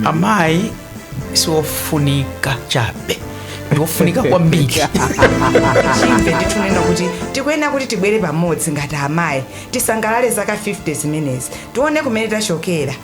amayi siofunika chabe ndiofunika kwambiri chimene ndikunena kuti tikuyenera kuti tibwere pamodzi ngati amayi tisangalale zaka 50 zimenezi tione kumene tachokera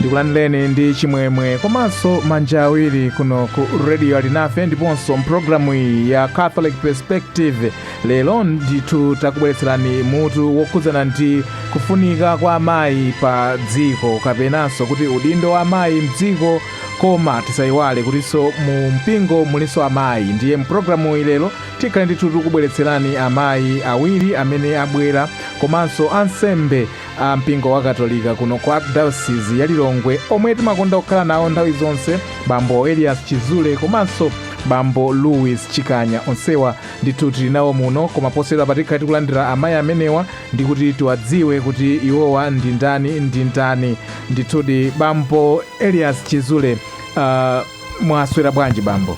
ndikulandireni ndi chimwemwe komanso manja awiri kuno ku radio alinafe ndiponso mpulogalamu iyi ya catholic perspective lero ndithu takubweretserani mutu wokhudzana ndi kufunika kwa amayi pa dziko kapenanso kuti udindo wa amayi mdziko Koma tisaiwale kutinso mu mpingo mulinso amayi. Ndiye m'pulogalamuyi lero tikhale ndithu tikukubweretserani amayi awiri amene abwera komanso ansembe a mpingo wa Katolika kuno ku Archdiocese ya Lilongwe omwe timakonda kukhala nawo nthawi zonse, Bambo Elias Chizule komanso Bambo Louis Chikanya. Onsewa ndithu tili nawo muno, koma posachedwapa tikhale tikulandira amayi amenewa ndi kuti tiwadziwe kuti iwowa ndi ndani ndi ndani ndithudi bambo elias chizule uh, mwaswera bwanji bambo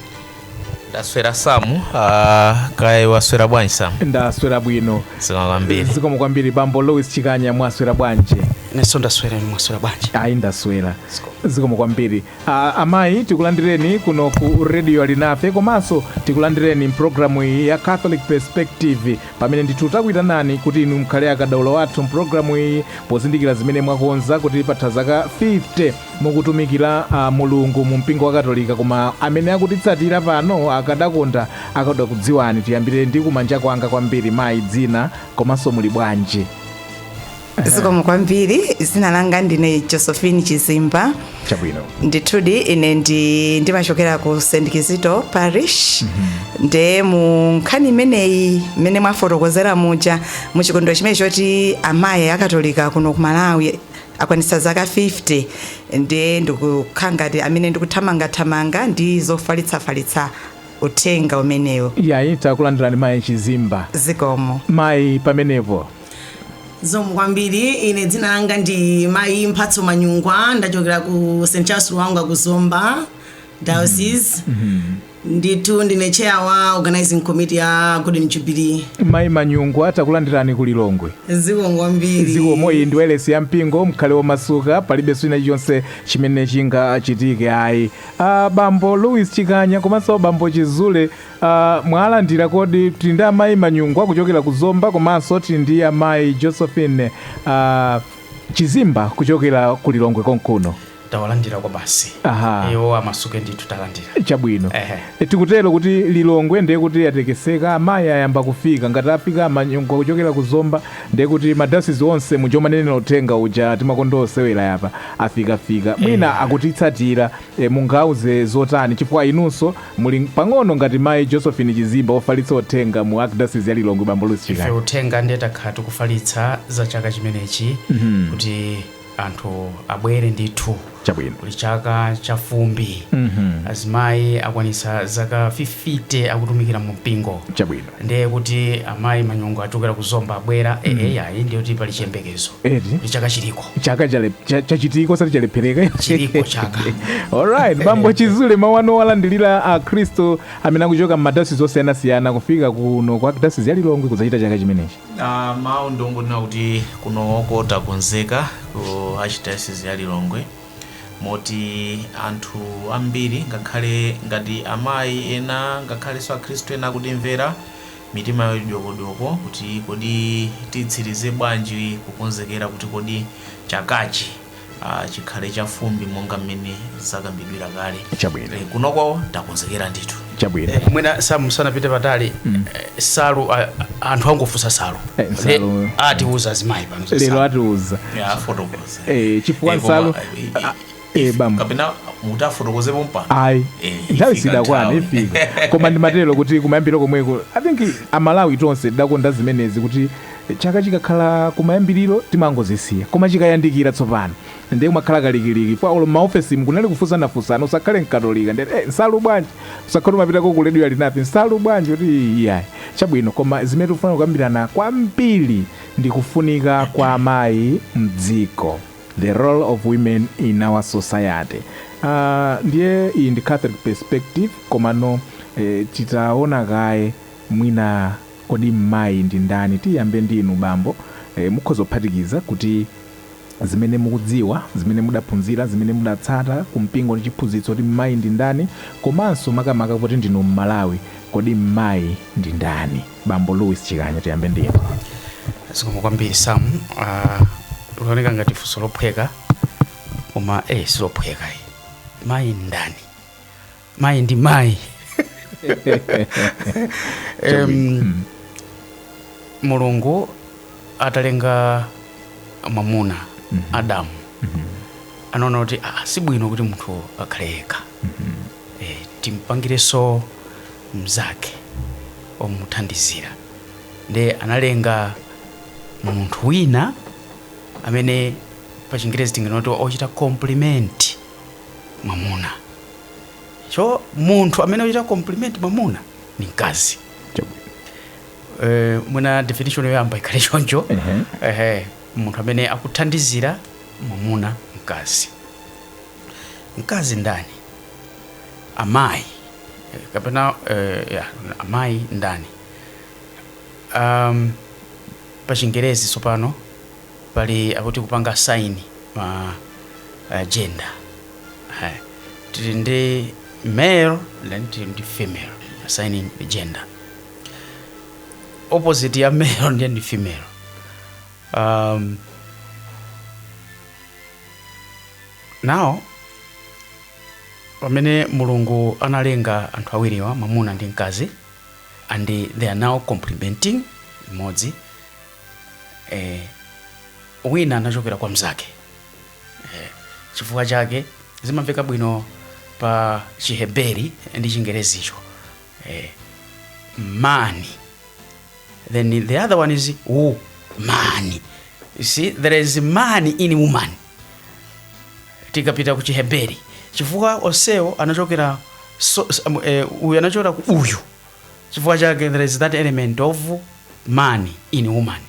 ndaswera samu uh, kaya iwe waswera bwanji samu ndaswera bwino zikomo kwambiri bambo louis chikanya mwaswera bwanji inenso ndaswera inu mwaswera bwanji ayi ndaswera zikomo kwambiri A, amayi tikulandireni kuno ku radio alinafe komanso tikulandireni mpulogalamu iyi ya catholic perspective pamene ndithu takuyitanani kuti inu mukhale akadaulo athu mpulogalamu iyi pozindikira zimene mwakonza kuti patha zaka 50 mukutumikira a, mulungu mu mpingo wa katolika koma amene akutitsatira pano akadakonda akadakudziwani tiyambire ndi kumanja kwanga kwambiri mayi dzina komanso muli bwanji zikomo kwambiri dzina langa ndine josephine chizimba chabwino ndithudi ine ndi ndimachokera ku st kizito parish nde mu nkhani imeneyi mmene mwafotokozera muja mu chikondwero chimene choti amayi akatolika kuno ku malawi akwanitsa zaka 50 nde ndikukhala ngati amene ndikuthamangathamanga ndi zofalitsafalitsa uthenga umenewo ayi takulandirani mayi chizimba zikomo mayi pamenepo zikomo kwambiri ine dzina langa ndi mayi mphatso manyungwa ndachokera ku st charles lwanga ku zomba diocese ndithu ndine chair wa organizing committee ya golden jubilee mayi manyungwa takulandirani ku lilongwe zikomo kwambiri zikomo iyi ndi wailesi ya mpingo mkhale womasuka palibenso china chilichonse chimene chingachitike ayi ah, bambo louis chikanya komanso bambo chizule Uh, mwalandira kodi tili ndi amayi manyungwa kuchokera ku zomba komanso tili ndi amayi josephine uh, chizimba kuchokera ku lilongwe konkuno tawalandira kwabasi Aha. iwo amasuke ndithu talandira chabwino Ehe. E, tikutero kuti lilongwe ndiye kuti yatekeseka amayi ayamba kufika ngati afika a Manyungwa kuchokera ku zomba ndiye kuti madayosizi onse muja umanenera uthenga uja timakonda osewerayapa afikafika mwina akutitsatira E, mungauze zotani chifukwa inunso muli pang'ono ngati mayi Josephine Chizimba ofalitsa uthenga mu Archdiocese ya Lilongwe bambo Louis Chikanya. Ife uthenga ndiye takhala tikufalitsa za chaka chimenechi kuti anthu abwere ndithu Chabwino. kuli chaka cha fumbi azimayi akwanitsa zaka 50 akutumikira mu mpingo Chabwino. Ndiye kuti amayi manyungwa achokera ku zomba abwera mm. ee eh, ayi ndiye kuti pali chiyembekezo kuti chaka chiliko chaka chachitiko osati chalephereka chiliko chaka alright bambo chizule mawu anu owalandilira akhristu amene akuchoka m'madayosizi osiyanasiyana kufika kuno ku archdiocese ya lilongwe kudzachita chaka chimenechi uh, mawu ndongonena kuti kunoko takonzeka ku archdiocese ya lilongwe Moti anthu ambiri, ngakhale ngati amayi ena ngakhalenso Akhristu ena akutimvera, mitima yawo ili dyokodyoko kuti kodi titsirize bwanji kukonzekera kuti kodi chakachi chikhale chafumbi monga mmene zakambidwira kale. Chabwino. Kunoko takonzekera ndithu. chabwino Eh, mwina sam sanapite patali eh, nsalu ah, anthu akufunsa nsalu Eh, Nsalu. Eh, atiuza azimayi pano za lero Nsalu. atiuza ya afotokoze Eh, chifukwa Eh, koma, nsalu eh, eh, ah, eh, bambo kapena mutafotokoza pompano ayi Eh, nthawi ifika sidakwana nthawi. ifika koma ndimatero kuti kumayambiriro komweko i think amalawi tonse tidakonda zimenezi kuti chaka chikakhala kumayambiriro timangozisiya koma chikayandikira tsopano Ndiye kumakhala kalikiliki paja olo mmaofesimu kunali kufunsanafunsana usakhale mkatolika ndiye ati eh nsalu bwanji usakhale umapitako ku radio alinafe nsalu bwanji kuti iyayi chabwino koma zimene tikufuna kukambirana kwambiri ndi kufunika kwa amayi mdziko the role of women in our society Ah, ndiye iyi ndi catholic perspective komano eh, titaona kaye mwina kodi mmayi ndi ndani tiyambe ndinu bambo eh, mukhoza kuphatikiza kuti zimene mukudziwa, zimene mudaphunzira, zimene mudatsata ku mpingo ndi chiphunzitso kuti mmayi ndi ndani komanso makamaka poti ndinu mmalawi kodi mmayi ndi ndani? Bambo Louis Chikanya tiyambe ndi inu. zikomo kwambiri sam uh, likuoneka ngati funso lophweka koma eh, silophweka eh. mayi ndi ndani mayi ndi mayi Em, mulungu atalenga mwamuna adamu anaona kuti "Ah, si bwino kuti munthu akhale yekha Eh, timpangirenso mnzake omuthandizira nde analenga munthu wina amene pa chingerezi tinganena kuti ochita compliment mwamuna so munthu amene ochita compliment mamuna ni mkazi eh, mwina definition yoyamba ikhale choncho ehe munthu amene akuthandizira mamuna mkazi mkazi ndani amayi eh, kapena eh, ya, amayi ndani um, pa chingerezi tsopano pali akuti kupanga assign ma uh, gender Eh tili ndi male then tili ndi female assigning the gender opposite ya male ndiye ndi female um, now pamene mulungu analenga anthu awiriwa mwamuna ndi mkazi and they are now complementing imodzi eh, wina anachokera kwa mzake Eh, chifukwa chake zimamveka bwino pa chiheberi ndi chingerezicho eh, man then the other one is woman you see there is man in woman tikapita ku chiheberi chifukwa onsewo anachokera so, s- um, eh, uyu anachokera ku uyu chifukwa chake there is that element of man in woman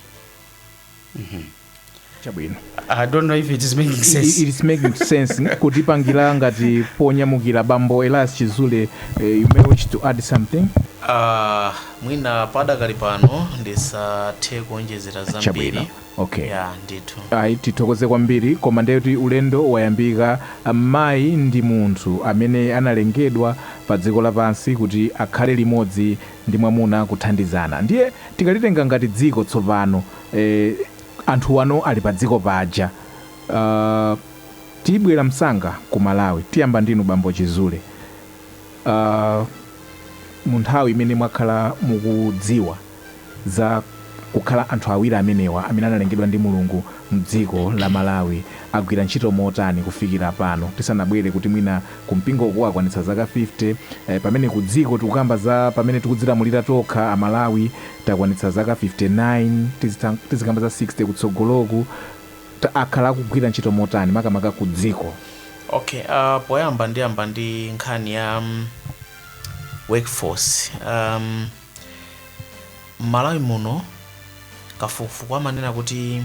chabwino I don't know if it is making sense. It, it is making sense kutipangira ngati ponyamukira bambo Elias Chizule uh, you may wish to add something Uh, mwina padakali pano ndisathe kuonjezera zambiri chabwino okay ya ndithu ayi tithokoze kwambiri koma ndekuti ulendo wayambika mayi ndi munthu amene analengedwa pa dziko lapansi kuti akhale limodzi ndi mwamuna kuthandizana ndiye tikalitenga ngati dziko tsopano eeh anthuwa ali padziko paja aah tibwera msanga ku Malawi tiyamba ndinu bambo chizule aah munthawi imene mwakhala mukudziwa za kukhala anthu awiri amenewa amene analengedwa ndi mulungu mdziko la Malawi agwira ntchito motani kufikira pano tisanabwere kuti mwina ku mpingo uku wakwanitsa zaka 50 eh, pamene ku dziko tikukamba za pamene tikudzilamulira tokha amalawi takwanitsa zaka 59 tizita- tizikamba za 60 kutsogoloku ta- akhala akugwira ntchito motani makamaka ku dziko okay uh, poyamba ndiyamba ndi nkhani ya um, workforce um, m'malawi muno kafukufuku amanena kuti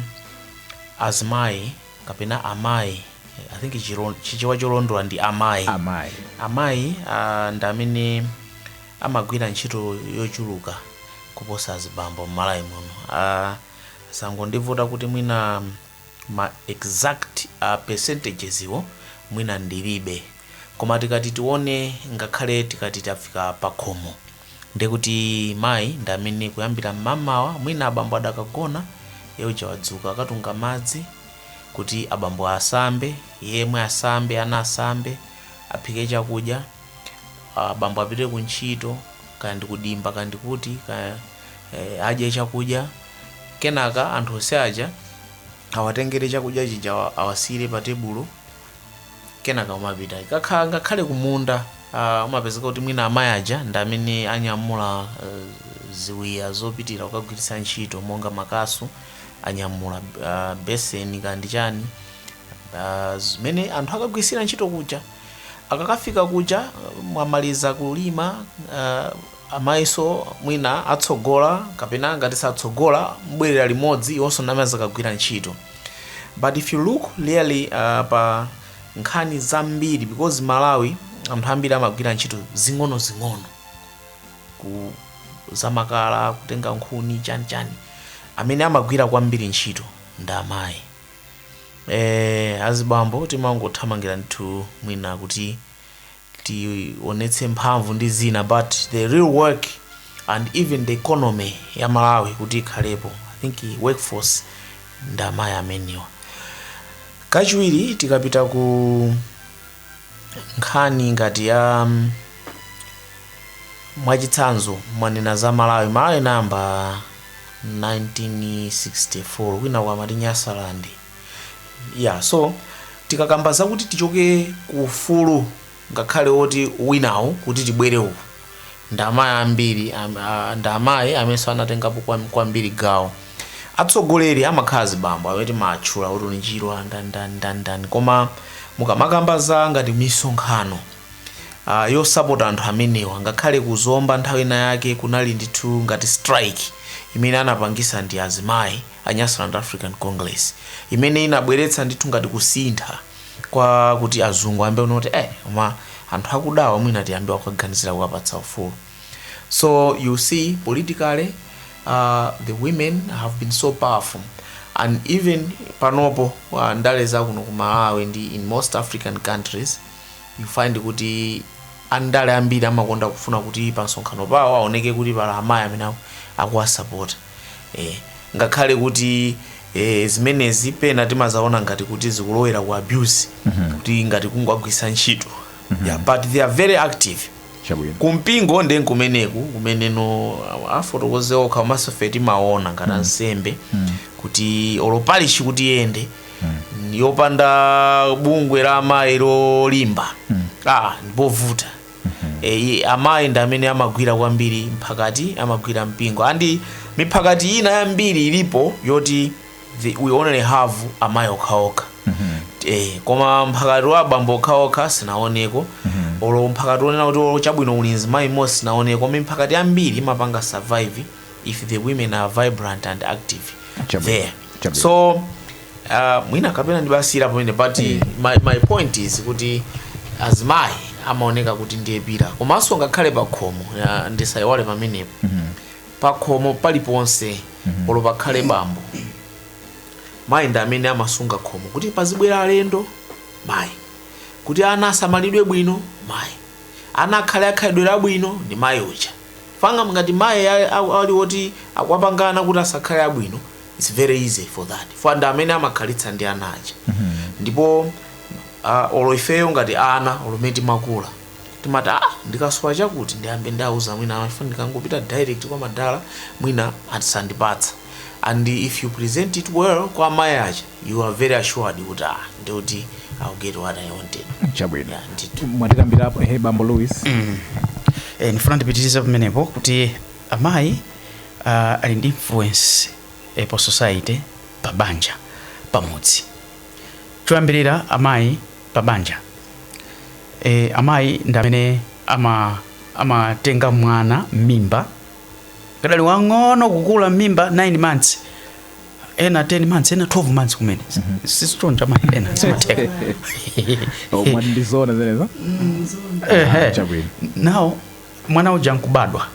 azimayi kapena amayi i think chilo- chichewa cholondola ndi amayi amayi amayi ah, ndi amene amagwira ntchito yochuluka kuposa azibambo mmalawi muno Ah, sangondivuta kuti mwina ma exact ah, percentages iwo mwina ndilibe koma tikati tione ngakhale tikati tafika pakhomo Ndiye kuti mayi ndi amene kuyambira mmamawa mwina abambo adakagona, iye uja wadzuka akatunga madzi kuti abambo asambe, iye yemwe asambe, ana asambe, aphike chakudya, abambo apite ku ntchito, kaya ndi ku dimba, kaya ndi kuti, kaya eh, adye chakudya. Kenaka anthu onse aja awatengere chakudya chija awa- awasiyire pa tebulo. kenaka umapita kakha ngakhale kumunda uh, umapezeka kuti mwina amayi aja ndi amene anyamula uh, ziwiya zopitira kukagwiritsa ntchito monga makasu anyamula uh, beseni kandi chani uh, zimene anthu akagwiritsira ntchito kuja akakafika kuja uh, mwamaliza kulima uh, Amayiso mwina atsogola kapena ngati satsogola mbwerera limodzi iwonso n'amene akagwira ntchito but if you look really pa nkhani zambiri because Malawi anthu ambiri amagwira ntchito zing'onozing'ono ku zamakala kutenga nkhuni chani chani amene amagwira kwambiri ntchito ndi amayi eh, azibambo timangothamangira ndithu mwina kuti tionetse mphamvu ndi zina but the real work and even the economy ya malawi kuti ikhalepo i think workforce ndamayi amenewa kachiwiri tikapita ku nkhani ngati ya um, mwachitsanzo mwanena za malawi malawi inayamba 1964 kwina kwamati nyasalandi ya so tikakamba zakuti tichoke ku ufulu ngakhale woti winawo kuti tibwere uku ndi amayi ambiri am- a- ndi amayi amenenso anatengapo kwam- kwambiri gawo atsogoleri amakhala azibambo amene timatchula kuti ndi chirwa ndani ndani ndani koma mukamakamba za ngati misonkhano uh, yosapota anthu amenewa ngakhale kuzomba nthawi ina yake kunali ndithu ngati strike imene anapangisa ndi azimayi a Nyasaland African Congress imene inabweretsa ndithu ngati kusintha kwa kuti azungu ayambe kuona kuti eh koma anthu akudawa mwina tiyambe kuganizira kuwapatsa ufulu so you see politically uh, the women have been so powerful and even panopo uh, ndale zakuno ku malawi ndi in most african countries you find kuti andale ambiri amakonda kufuna kuti pa msonkhano pawo aoneke kuti pali amayi amene aku- akuwasapota e, ngakhale kuti e, zimenezi pena timazaona ngati kuti zikulowera ku abuse kuti ngati kungowagwiritsa ntchito yeah, but they are very active chabwino kumpingo nde nkumeneku kumeneno afotokoze okha komanso ife timaona ngati ansembe kuti olo parishi kuti iyende yopanda bungwe la amayi lolimba ah ndipovuta Eee amayi ndi amene amagwira kwambiri mphakati amagwira mpingo and miphakati ina yambiri ilipo yoti the, we only have amayi okhaokha eh, koma mphakati wa abambo okhaokha sindinaoneko olo mphakati wonena kuti olo chabwino uli mzimayi mmodzi sindinaoneko koma miphakati yambiri imapanga survive if the women are vibrant and active Chabwino, there chabwino. so uh, mwina kapena ndibasire pamene but my, my point is kuti azimayi amaoneka kuti ndiye pillar komanso ngakhale pakhomo ya, ndisayiwale pamenepo pakhomo paliponse olo pakhale bambo mayi ndi amene amasunga khomo kuti pazibwera alendo mayi kuti ana asamalidwe bwino mayi ana akhale akhalidwe labwino ndi mayi uja Chifukwa ngati mayi ali oti akuwapanga ana kuti asakhale abwino its very easy for that chifukwa ndi amene amakhalitsa ndi ana aja ndipo uh, olo ifeyo ngati ana olo mmene timakula timati ah ndikasowa chakuti ndiyambe ndauza mayi awa chifukwa ndikangopita direct kwa madala mwina asandipatsa and if you present it well kwa amayi aja you are very assured kuti ah ndikuti I'll get what I wanted chabwino yeah ndithu mwatikambirapo ehe bambo louis e, ndifuna ndipitirize pamenepo kuti amayi uh, ali ndi influence e, pa society pa banja pamudzi choyambirira amayi pa banja e, amayi ndi amene ama amatenga mwana m'mimba kadali wang'ono kukula m'mimba 9 months ena 10 months ena 12 months kumene si choncho amayi ena zimatheka Oh, mwati ndi zoona zimenezo Ehe. chabwino now mwana uja nkubadwa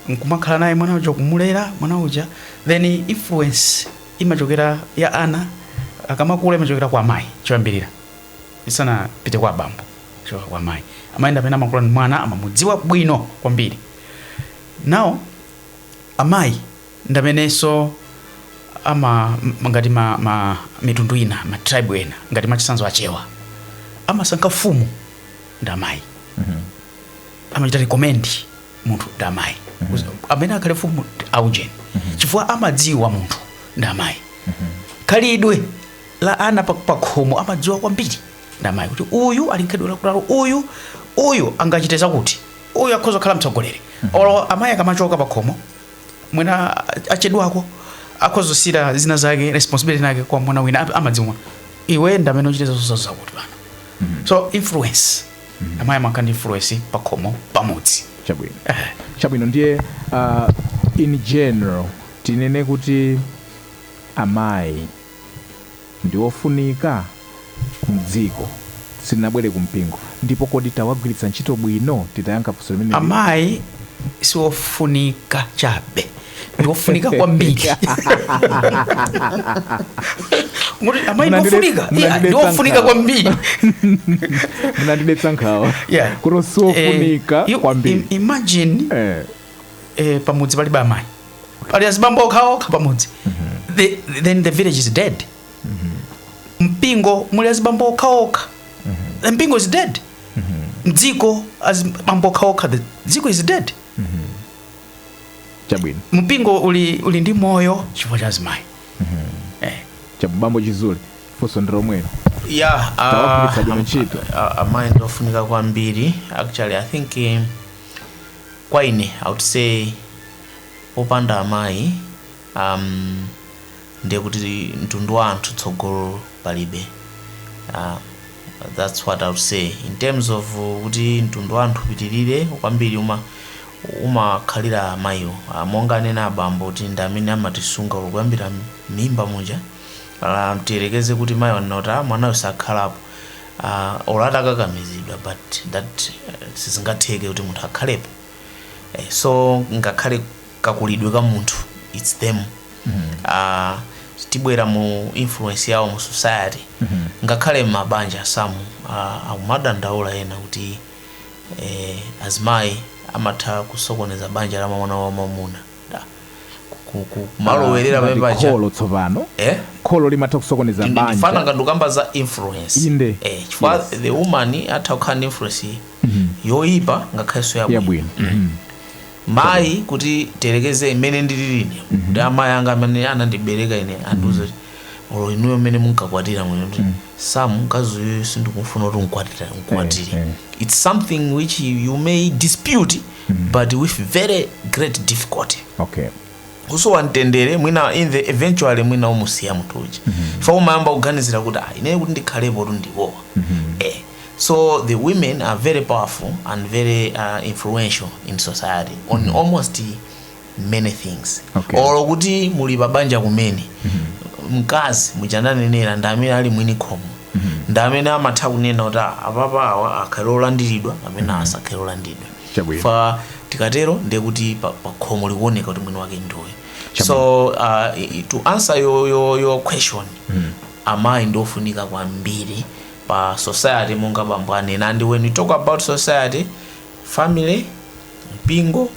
nkumakhala naye mwana uja kumulera mwana uja then influence imachokera ya ana akamakula imachokera kwa amayi choyambirira isanapite kwa abambo kuchoka kwa amayi amayi ndi amene amakula ndi mwana amamudziwa bwino kwambiri now amayi ndamenenso ama ngati ma, ma mitundu ina ma tribe ena ngati mwachitsanzo achewa amasankha mfumu ndi amayi amachita recommend munthu ndi amayi amene akhale mfumu ndi aujeni chifukwa amadziwa munthu ndi amayi khalidwe la ana pa- pakhomo amadziwa kwambiri ndi amayi kuti uyu ali ndi khalidwe lakuti uyu uyu angachite zakuti uyu akhoza kukhala mtsogoleri olo amayi akamachoka pakhomo mwina achedwako akhoza kusiya zina zake responsibility yake kwa mwana wina ap- amadziwa iwe ndamene uchite zakuti zakuti pano so influence amayi amakhala ndi influence pakhomo pamudzi chabwino chabwino ndiye uh, in general tinene kuti amayi ndi ofunika mdziko. Sitinabwere ku mpingo. Ndipo kodi tawagwiritsa ntchito bwino titayankha funso limeneli? Amayi si ofunika chabe, ndi ofunika kwambiri. Mukuti amayi ndi Munandide- ofunika? Yeah, ndi munandidetsa ofunika nkhawa. kwambiri. Munandidetsa nkhawa. Yeah. Kuti si Eh, ofunika you- kwambiri. im- Imagine Eh, eh, pamudzi palibe amayi pali azibambo okhaokha pamudzi the, then the village is dead mpingo muli azibambo okhaokha the mpingo is dead mdziko azibambo okhaokha the dziko is dead chabwino mpingo uli, uli ndi moyo chifukwa cha azimayi eh. abambo chizule funso ndi lomwelo yeah, ah, tawagwiritsa bwino ntchito a- amayi ndi ofunika kwambiri actually i think eh, Kwa ine I would say popanda amayi um ndiye kuti mtundu wa anthu tsogolo palibe uh, that's what I would say in terms of kuti mtundu wa anthu upitirire kwambiri uma umakhalira amayiwo uh, monga anena abambo kuti ndi amene amatisunga kuyambira mimba muja uh, tiyerekeze kuti mayi wanena kuti "Ah, mwanayo sakhalapo uh, olo atakakamizidwa but that uh, sizingatheke kuti munthu akhalepo eh, so ngakhale kakulidwe ka munthu its them mm. uh, tibwera mu influence yawo mu society mm-hmm. ngakhale mabanja samu uh, akumadandaula ena kuti eh, azimayi amatha kusokoneza banja la mwana wa mwamuna ku- ku- ku- kumalowerera Ngati pamene paja kholo tsopano Eh? kholo limatha kusokoneza Ndi- ndikumva banja ngati mukukamba za influence Inde. eh, chifukwa Yes. the woman atha kukhala ndi influence yoyipa ngakhalenso yabwino yabwino Mhm. mayi kuti tiyerekeze mmene ndilili ine kuti amayi anga amene anandibereka ine andiuza kuti olo inuyo mmene munkakwatira anene kuti sam mkazi uyu sindikumfuna kuti mkwatira mkwatire Eh, eh. it's something which you may dispute but with very great difficulty okay kusowa mtendere mwina in the eventually mwina umusiya munthu uja umayamba kuganizira kuti ah ine kuti ndikhalepotu ndi awa eh so the women are very powerful and very uh, influential in society on almost many things Okay. olo kuti muli pabanja kumene mkazi mu chinenero ndi amene ali mwini khomo ndi amene amatha kunena kuti "Ah, apapa awa akhale olandiridwa amene asakhale olandiridwa Chabwino. tikatero ndiye kuti pa- pa khomo likuoneka kuti mwini wake ndi uyo so uh, i- i- to answer your, your, your question amayi ndiofunika kwambiri pa society monga bambo anena and when you talk about society family mpingo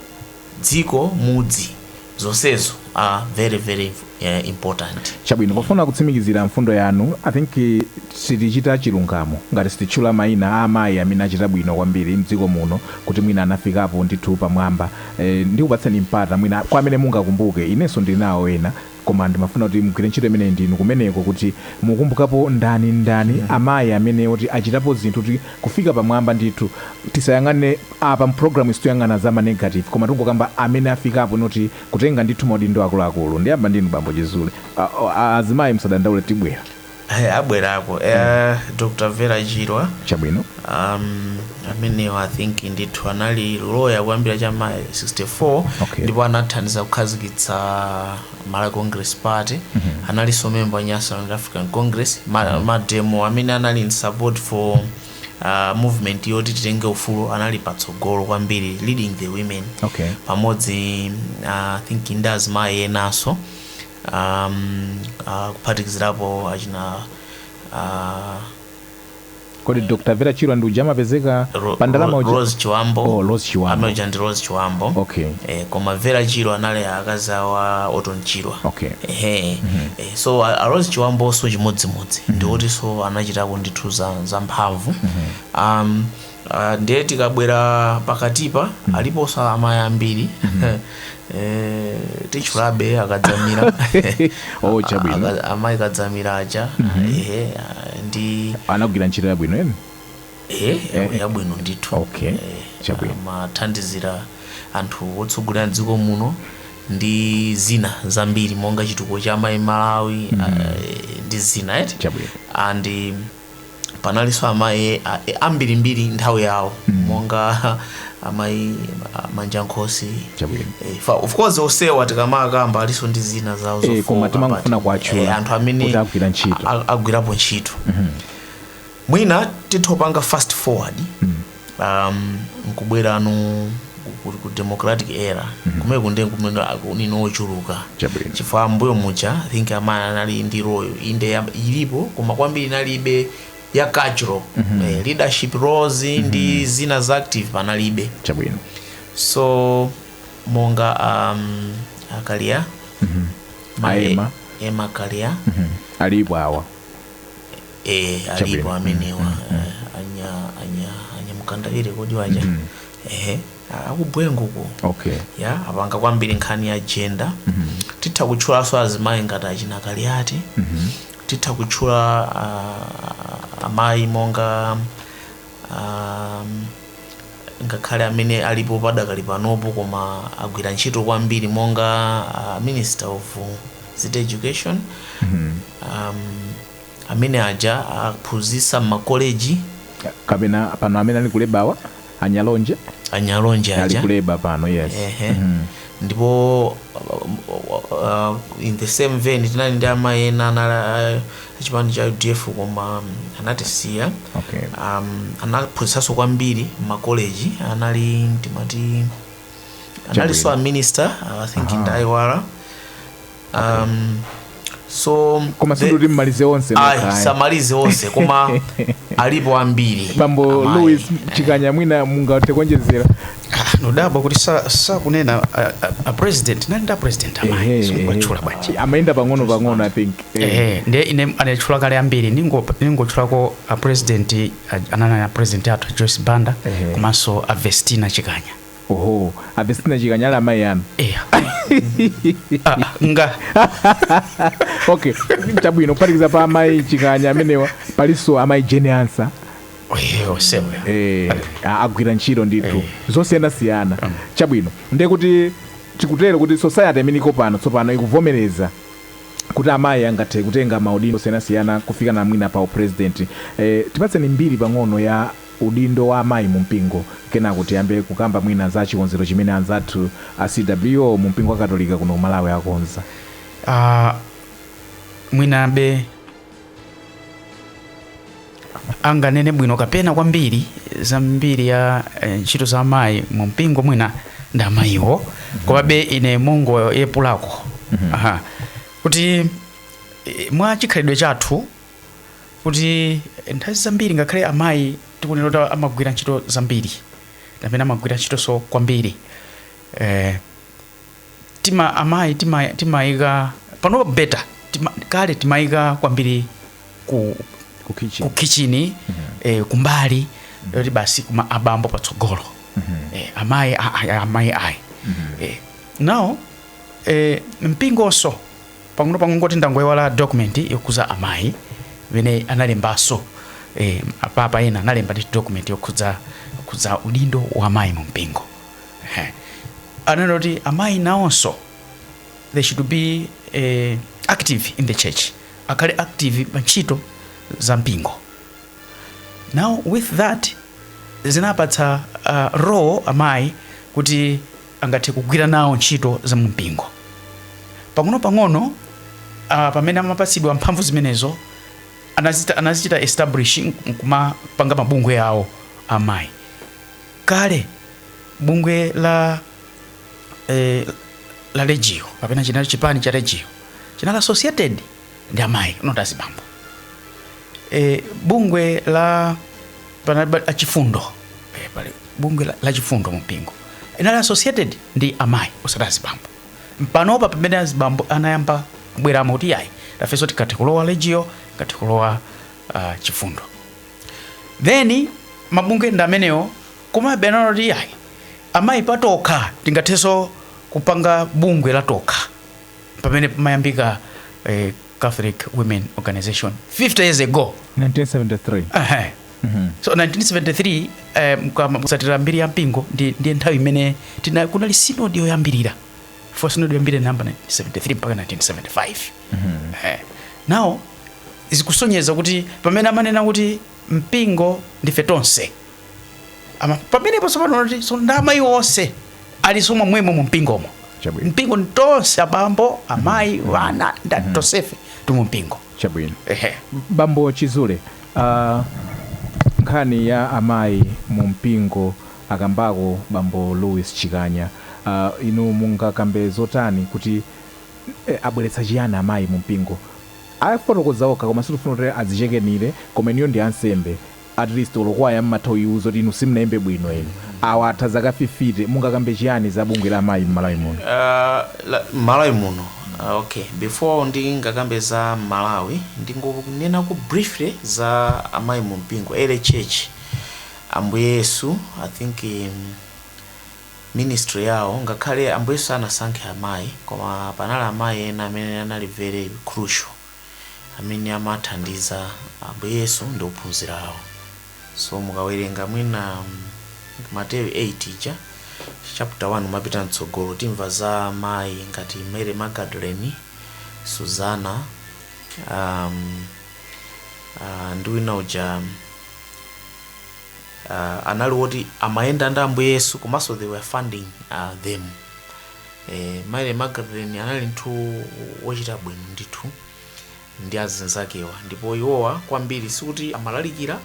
dziko mudzi zonsezo are very very eh, important chabwino pofuna kutsimikizira mfundo yanu i think eh, sitichita chilungamo ngati sititchula maina a amayi amene achita bwino kwambiri mdziko muno kuti mwina anafikapo ndithu pamwamba eh, ndikupatseni mpata mwina kwa amene mungakumbuke inenso ndili nawo ena Koma ndimafuna kuti mugwire ntchito imeneyi ndi inu kumeneko kuti mukumbukapo ndani ndani amayi amene oti achitapo zinthu kuti kufika pamwamba ndithu tisayang'ane apa mu program iyi situyang'ana za ma negative koma tingokamba amene afikapo mpo kutenga ndithu maudindo akuluakulu ndiyamba ndinu bambo chizule azimayi musadandaule tibwera Hey, abwerako eh, dr vera chirwa chabwino um, amenewo i think ndithu anali loya kuyambira cha ma 64 Okay. ndipo anathandiza kukhazikitsa malawi congress party analinso memba wa nyasaland african congress ma, mademo amene anali in support for uh, movement yoti titenge ufulu anali patsogolo kwambiri leading the women okay pamodzi uh, i think ndazimayi enanso um, uh, kuphatikizirapo achina uh, kodi dr vera chirwa ndi uja amapezeka Ro- pa ndalama Ro- uja Rose Chiwambo Oh, Rose Chiwambo. amene uja ndi Rose Chiwambo Okay. eh, koma Vera Chirwa anali akazi a Orton Chirwa Okay. ehe eh, so a, a Rose Chiwambonso chimodzimodzi ndi otinso anachitako ndithu za, za mphamvu um, Ah, ndiye tikabwera pakatipa aliponso amayi ambiri Eh, titchulabe akadzamira Oh, chabwino. Aka- amayi kadzamira aja ehe, ah, ndi anagwira ntchito yabwino eti eh, ya- yabwino ndithu Okay, Eh, chabwino. amathandizira anthu otsogolera mdziko muno ndi zina zambiri monga chitukuko cha amayi malawi ah, ndi zina eti Chabwino. and panalinso amayi a- a- ambirimbiri nthawi yawo monga amayi a- manja nkhosi Chabwino. Eh, fa- of course onsewa tikamakamba alinso ndi zina zawo Eh, zofowoka, koma timangofuna but, kuwatchula eh, anthu amene kuti agwira ntchito. a- a- agwirapo ntchito mwina titha kupanga fast forward um, nkubwerano ku- ku- ku democratic era kumene kunde kumene akunino ochuluka Chabwino. chifukwa mmbuyomu ja I think amayi anali ndi role inde ya- ilipo koma kwambiri inalibe ya cultural eh, leadership roles ndi zina za active panalibe chabwino so monga um, a kaliya A emma. emma kaliya alipo awa Eh, alipo Chabwino. amenewa eh, anya anya anya mkandawire kodi waja ehe a- a ku bwengu ko okay ya apanga kwambiri nkhani ya gender titha kutchulanso azimayi ngati achina kaliati titha kutchula ah, amayi monga um, ngakhale amene alipo padakali panopo koma agwira ntchito kwambiri monga uh, minister of uh, civic education um, amene aja aphunzitsa mmakoleji. kapena pano amene ali ku labour wa a nyalonje a nyalonje ali aja ku labour pano yes Ehe. ndipo uh, in the same vein tinali ndi amayi ena anali achipani cha udf koma um, anatisiya okay um, anaphunzitsanso kwambiri mmakoleji anali timati analinso a minister uh, i think ndaiwala um, so koma the- sindikuti mmalize onse ayi nokha, ayi. samalize onse koma alipo ambiri bambo amayi. louis chikanya mwina mungathe kuonjezera Ah, nodabwa kuti sa- sakunena a- a- a president nali ndi a president Ehe, amayi sikuwatchula bwanji amayenda pang'ono pang'ono i think Eh. ehe ndiye ine anatchula kale ambiri ningo- ningotchulako a president a- anali a president athu a joyce banda Ehe. komanso a vestina chikanya oho a vestina chikanya ali amayi anu eya Ah, nga okay chabwino kuphatikiza pa amayi chikanya amenewa palinso amayi jane ansah oyeyo sewe eh, a- agwira ntchito ndithu Eh. zosiyanasiyana chabwino ndiye kuti tikutero kuti society imene iko pano tsopano ikuvomereza kuti amayi angathe kutenga maudindo osiyanasiyana kufika na mwina pa upresident eh, tipatseni mbiri pang'ono ya udindo wa amayi mu mpingo kenako tiyambe kukamba mwina za chikonzero chimene anzathu a CWO mu mpingo wa katolika kuno ku Malawi akonza. Uh, mwinabe anganene bwino kapena kwambiri za mbiri ya eh, ntchito za amayi mu mpingo mwina ndi amayiwo mhm. komabe ine mongoyepulako mhm. aha kuti eh, mwa chikhalidwe chathu kuti nthawi zambiri ngakhale amayi tikuona kuti amagwira ntchito zambiri amene amagwira ntchitonso kwambiri eh, tima amayi tima- timayika pano better tima, kale timayika kwambiri ku, ku kitchen ku kitchini eh, kumbali yoti basi kuma abambo patsogolo eh, amayi a- a- amayi ayi eh, now eh, mpingonso pang'ono pang'ono kungoti ndangoiwala document yokhudza amayi imene analembanso eh, apapa ena analembanso document yokhudza yokhudza udindo wa amayi mu mpingo eh. ananena kuti amayi nawonso they should be eh, active in the church akhale active pa ntchito za mpingo now with that zinapatsa uh, role amayi kuti angathe kugwira nawo ntchito za mu mpingo. Pang'onopang'ono, a, pamene amapatsidwa mphamvu zimenezo, anazita, anazichita establish nkumapanga mabungwe awo amayi. Kale bungwe la eh, la Legio kapena chinali chipani cha Legio chinali associated ndi amayi not azibambo e, bungwe la panali ba- achifundo e, pali bungwe la, la chifundo mumpingo inali associated ndi amayi osati azibambo panopa pamene azibambo anayamba kubweramo kuti yayi tafenso tikathe kulowa legio tikathe kulowa uh, chifundo then mabungwe ndi amenewo komabe anaona kuti yayi amayi patokha tingathenso kupanga bungwe latokha pamene pamayambika eh, catholic women organization 50 years ago 1973 Ehe. so 1973 eh, mkama- kutsatira mbiri ya mpingo ndi, ndiye nthawi imene tina- kunali sinodi yoyambirira for sinodi yoyambirira namba 1973 mpaka 1975 Eh, now zikusonyeza kuti pamene amanena kuti mpingo ndife tonse Ama- pamenepo tsopano kuti so nda amayi onse alinso momwemo mu mpingomo Chabwino. mpingo ndi tonse abambo amayi wana nda tonsefe tili mu mpingo chabwino ehe bambo chizule uh, nkhani ya amayi mu mpingo akambako bambo louis chikanya uh, inu mungakambe zotani kuti eh, abweretsa chiyani amayi mu mpingo afotokoza okha koma sitifuna kuti azichekenire koma inuyo ndi ansembe at least olo kwaya mmatha uyiuza kuti inu simunaimbe bwino inu awa atha zaka fifite mungakambe chiyani za bungwe la amayi mmalawi muno Uh, la- malawi muno uh, okay before ndingakambe za malawi ndingonenako briefly za amayi mu mpingo early church ambuye yesu i think um, ministry yawo ngakhale ambuye yesu sanasankhe amayi koma panali amayi ena amene anali very crucial amene amathandiza Ambuye Yesu ndi ophunzira awo. So mukawerenga mwina Mateyu 8 uja chapter 1 umapita mtsogolo timva za mayi ngati Mary Magdalene, Suzana um, uh, ndi wina uja uh, anali woti amayenda ndi Ambuye Yesu komanso they were funding uh, them Eh, Mary Magdalene anali munthu wochita bwino ndithu ndi azinzakewa ndipo iwowa kwambiri sikuti amalalikira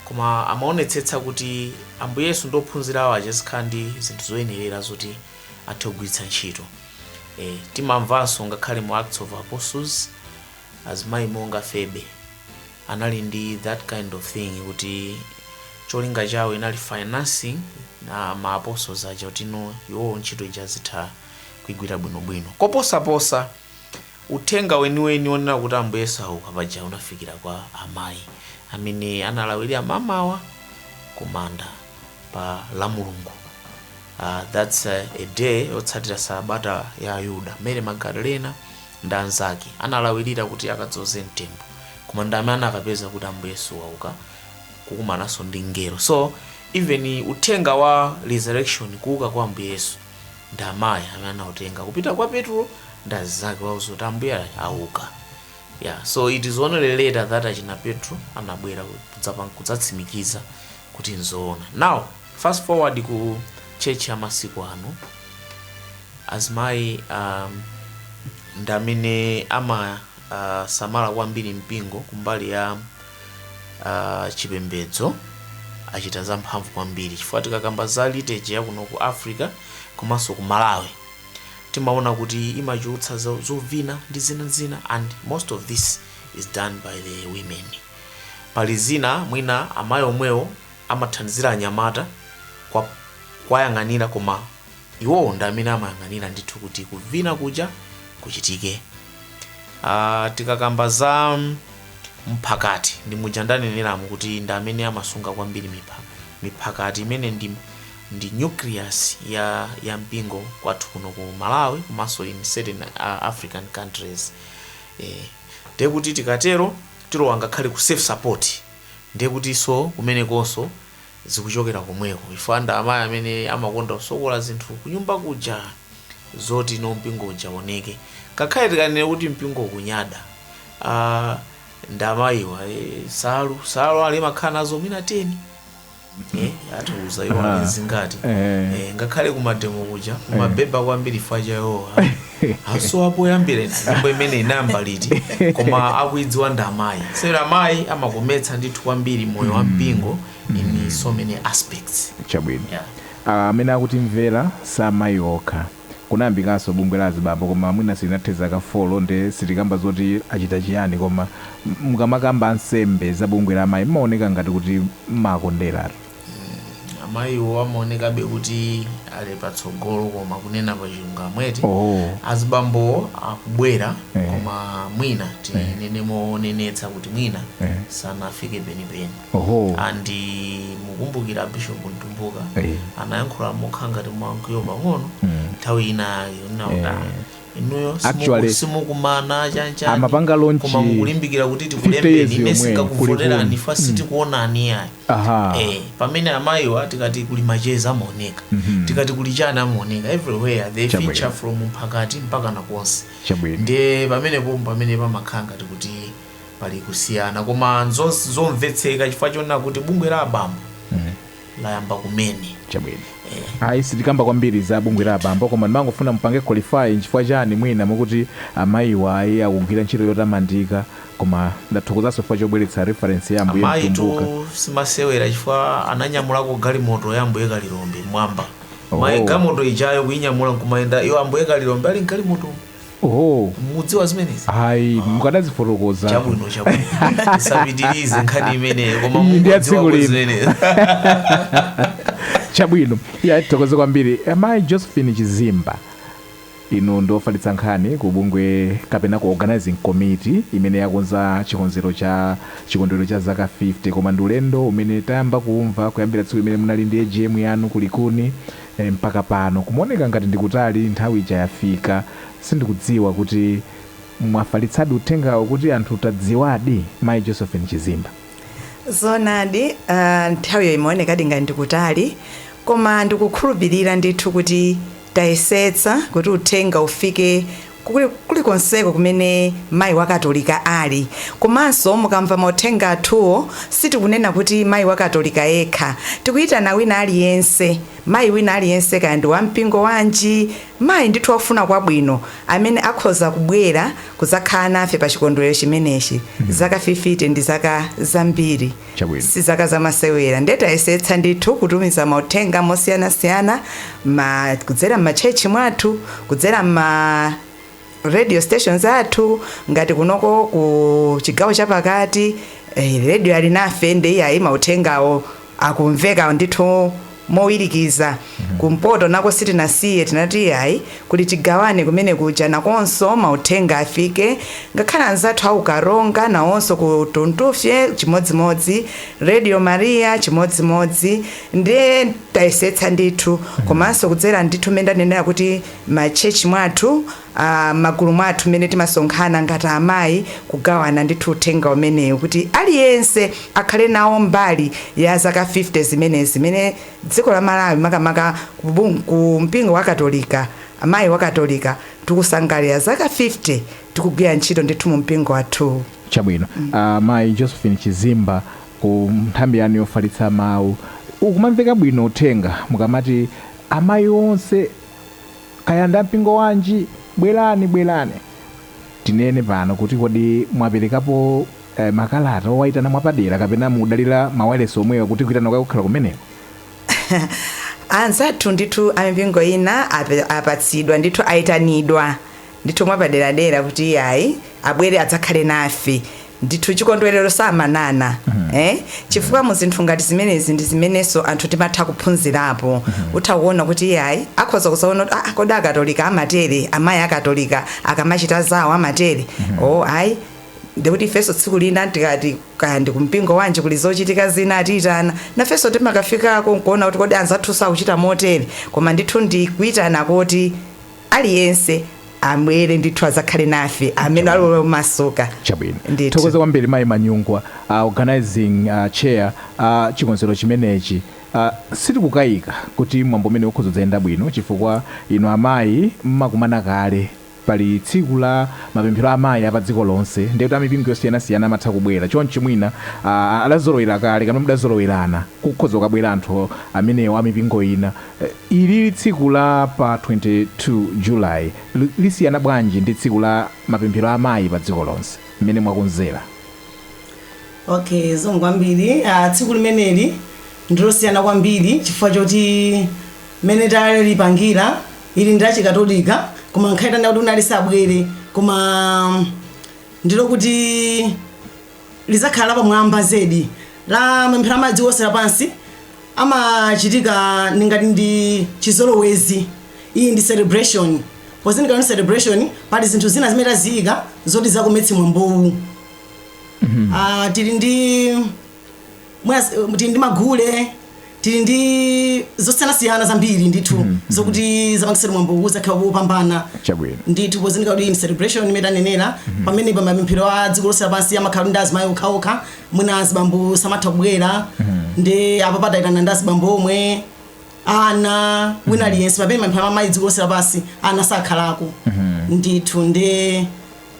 koma amaonetsetsa kuti ambuye yesu ndi ophunzira awo azikhala ndi zinthu zoyenerera zoti athe kugwiritsa ntchito eh, timamvanso ngakhale mu acts of apostles azimayi monga febe anali ndi that kind of thing kuti cholinga chawo inali financing ma apostles aja kuti no iwowo ntchito ija azitha kuigwira bwinobwino koposaposa uthenga weniweni onena kuti ambuye sauka paja unafikira kwa amayi amene analawirira mamawa kumanda pa lamulungu uh, that's uh, a day yotsatira sabata ya ayuda mary magdalena ndi anzake analawirira kuti akadzoze mtembo koma ndi amene anakapeza kuti ambuye yesu wauka kukumananso ndi mngelo so even uthenga wa resurrection kuuka kwa ambuye yesu ndi amayi amene anautenga kupita kwa petro ndi azinzake kuwauza kuti ambuye auka yeah so it is only later that achina petro anabwera kudzapa- kudzatsimikiza kuti nzoona. Now fast forward ku church ya masiku ano, azimayi um, ndi amene amasamala uh, kwambiri mpingo kumbali ya uh, chipembedzo achita zamphamvu kwambiri chifukwa tikakamba za liturgy ya kuno ku africa komanso ku malawi timaona kuti imachulutsa zo- zovina ndi zina zina and most of this is done by the women Pali zina mwina amayi omwewo amathandizira anyamata kwa kuwayang'anira koma iwowo ndi amene amayang'anira ndithu kuti kuvina kuja kuchitike. Uh, tikakamba za mphakati ndi muja ndaneneramu kuti ndi amene amasunga kwambiri mipha, miphakati imene ndi, ndi nucleus ya, ya mpingo kwathu kuno ku Malawi komanso in certain uh, African countries eh. ndiye kuti tikatero tilowa ngakhale ku self support ndiye kutinso kumenekonso zikuchokera komweko chifukwa ndi amayi amene amakonda kusokola zinthu kunyumba kuja zoti no mpingo uja uwoneke ngakhale tikanene kuti mpingo kunyada uh, ndi amayiwa eh, nsalu nsalu amakhala nazo mwina 10 eh, atiuze iwo Aha. ali zingati Eh. eh, ngakhale kumademo kuja kumabeba kwambiri faja yoti asowa poyambira nyimbo imene inayamba liti koma akuidziwa ndi amayi sera amayi amakometsa ndithu kwambiri moyo wa mpingo in so many aspects chabwino yeah. Ah, amene akutimvera si amayi okha kunayambikanso bungwe la azibambo koma mwina silinathe zaka 4 nde sitikamba zoti achita chiyani koma mukamakamba ansembe za bungwe la amayi mmaoneka ngati kuti mmakonderatu. amayiwo amaonekabe kuti ali patsogolo koma kunena pa chilungamo eti Oh. azibambo akubwera Eh. koma mwina tinene monenetsa kuti mwina Eh. sanafike penipeni Oho. and mukumbukira bishop mtumbuka Eh. anayankhula mokhala ngati mwamkwiyo pang'ono nthawi ina yake kunena kuti "Ah, inuyo simuku- Actually, simukumana chanchani amapanga launch koma mukulimbikira kuti 50 years tikulembeni ine yomweyo, singakuvoterani kulikulu. chifukwa sitikuonani ayi Aha. Eh, pamene amayiwa tikati kuli macheza amaoneka tikati kuli chani amaoneka everywhere they Chabwino. feature from mphakati mpakana konse Chabwino. ndiye pamenepo pamene pamakhala ngati kuti pali kusiyana koma nzos- zomvetseka chifukwa chonena kuti bungwe la abambo layamba kumene chabwino ayi sitikamba kwambiri za bungwe la abambo koma ndimangofuna mupange qualify nchifukwa chani mwina mukuti amayiwa ayi akugwira ntchito yotamandika koma ndathokozanso chifukwa chobweretsa reference ya ambuye amayi atumbukatu simasewera chifukwa ananyamulako galimoto ya ambuye kalilombe mmwamba Oh. amayi galimoto ijayo kuinyamula nkumayenda iyo ambuye kalilombe ali mgalimoto Oho. mukudziwa zimenezi Ayi, Ah. mukadazifotokoza. chabwino chabwino usapitirize nkhani imeneyo koma Iyi ndi ya tsiku mungodziwa lino. zimenezi Chabwino. Ya tithokoze kwambiri. Amayi Josephine Chizimba. Inu ndi ofalitsa nkhani ku bungwe kapena ku organizing committee imene yakonza chikonzero cha chikondwerero cha zaka 50 koma ndi ulendo umene tayamba kuumva kuyambira tsiku limene munali ndi AGM yanu ku Likuni Eh mpaka pano kumaoneka ngati ndikutali nthawi ija yafika sindikudziwa kuti mwafalitsadi uthengawo kuti anthu tadziwadi Mayi Josephine Chizimba. Zoonadi aah nthawiyo imaonekadi ngati ndikutali koma ndikukhulupilira ndithu kuti tayesetsa kuti uthenga ufike kulikonseko kumene mayi wa katolika ali komanso mukamva mauthenga athuwo sitikunena kuti mayi wa katolika yekha tikuyitana wina aliyense mayi wina aliyense kaya ndi wampingo wanji mayi ndithu wofuna kwabwino amene akhoza kubwera kudzakhala nafe pa chikondwerero chimenechi zaka 50 ndi zaka zambiri Chabwino. si zaka zamasewera nde tayesetsa ndithu kutumiza mauthenga mosiyanasiyana ma, kudzera m'ma church mwathu kudzera m'ma radio stations athu ngati kunoko ku chigawo chapakati eh, Radio Alinafe nde iyayi mauthengawo akumveka ndithu mowirikiza. Kumpoto nako sitinasiye, tinati iyayi, kuli Tigabane kumene kuja nakonso mauthenga afike, ngakhale anzathu a ku Karonga nawonso ku Tuntufye chimodzimodzi, Radio Maria chimodzimodzi, ndiye tayesetsa ndithu, komanso kudzera ndithu mmene ndanenera kuti ma church mwathu, a m'magulu mwathu mmene timasonkhana ngati amayi kugawana ndithu uthenga umenewu kuti aliyense akhale nawo mbali ya zaka 50 zimenezi zimene dziko la Malawi makamaka ku mpingo wa katolika amayi a katolika tikusangalira zaka 50 tikugwira ntchito ndithu mu mpingo wathuwu. Chabwino. Amayi Josephine Chizimba ku nthambi yanu yofalitsa mawu ukumamveka bwino uthenga mukamati amayi onse. Kaya ndi a mpingo wanji, bwerani, bwerani. Tinene pano kuti kodi mwaperekapo makalata owaitana mwapadera kapena mukudalira mawailesi omwewa kuti kuitana kwake kukhale kumeneko? Anzathu ndithu a mipingo ina apatsidwa ndithu, aitanidwa. ndithu mwapaderadera kuti iyayi abwere adzakhale nafe ndithu chikondwerero samanana eh? chifukwa mu zinthu ngati zimenezi ndi zimenenso anthu timatha kuphunzirapo utha kuona kuti iyayi akhoza kuzaona kuti ah, kodi akatolika amatere amayi akatolika akamachita zawo amatere oh ayi ndikuti ifenso tsiku lina tikati kaya ndi kumpingo wanji kuli zochitika zina atiyitana nafenso timakafikako nkuona kuti kodi anzathu akuchita motere koma ndithu ndi kuyitana koti aliyense abwere ndithu azakhale nafe amene ali omasuka chabwino Ndithu. thokoza kwambiri mayi Manyungwa uh, organizing uh, chair uh, chikonzero chimenechi uh, sitikukayika kuti mwambo umenewu udzayenda bwino chifukwa inu amayi mmakumana kale pali tsiku la mapemphero a amayi apa dziko lonse ndiye kuti amipingo yosiyanasiyana amatha kubwera chonchi mwina uh, adazolowera kale kapena mudazolowerana kukhoza kubwera anthu amenewo amipingo ina Ili tsiku la pa 22 July lisiyana bwanji ndi tsiku la mapemphero a amayi pa dziko lonse mmene mwakonzera? Ok zikomo kwambiri, tsiku limeneli ndilosiyana kwambiri chifukwa choti mmene talipangira ili ndi lachikatolika koma ngakhale titanena kuti wina aliyense abwere koma ndilokuti. lidzakhala lapamwamba zedi la mapemphero a mayi a dziko lonse lapansi amachitika ndi ngati ndi chizolowezi iyi ndi celebration pozindikira kuti ndi celebration pali zinthu zina zimene taziyika zoti zakometse mwambowu Ah, tili ndi mwina s- tili ndi magule tili ndi zosiyanasiyana zambiri ndithu zokuti zizapangise mwambowu kuzakhala wopambana Chabwino. ndithu pozindikira kuti ndi celebration imene tanenera pamene pa mapemphero a dziko lonse lapansi amakhala ndi azimayi okhaokha mwina azibambo samatha kubwera nde apapa tayitana ndi azibambo omwe ana wina aliyense pamene mapemphero amayi dziko lonse lapansi ana sakhalako ndithu ndi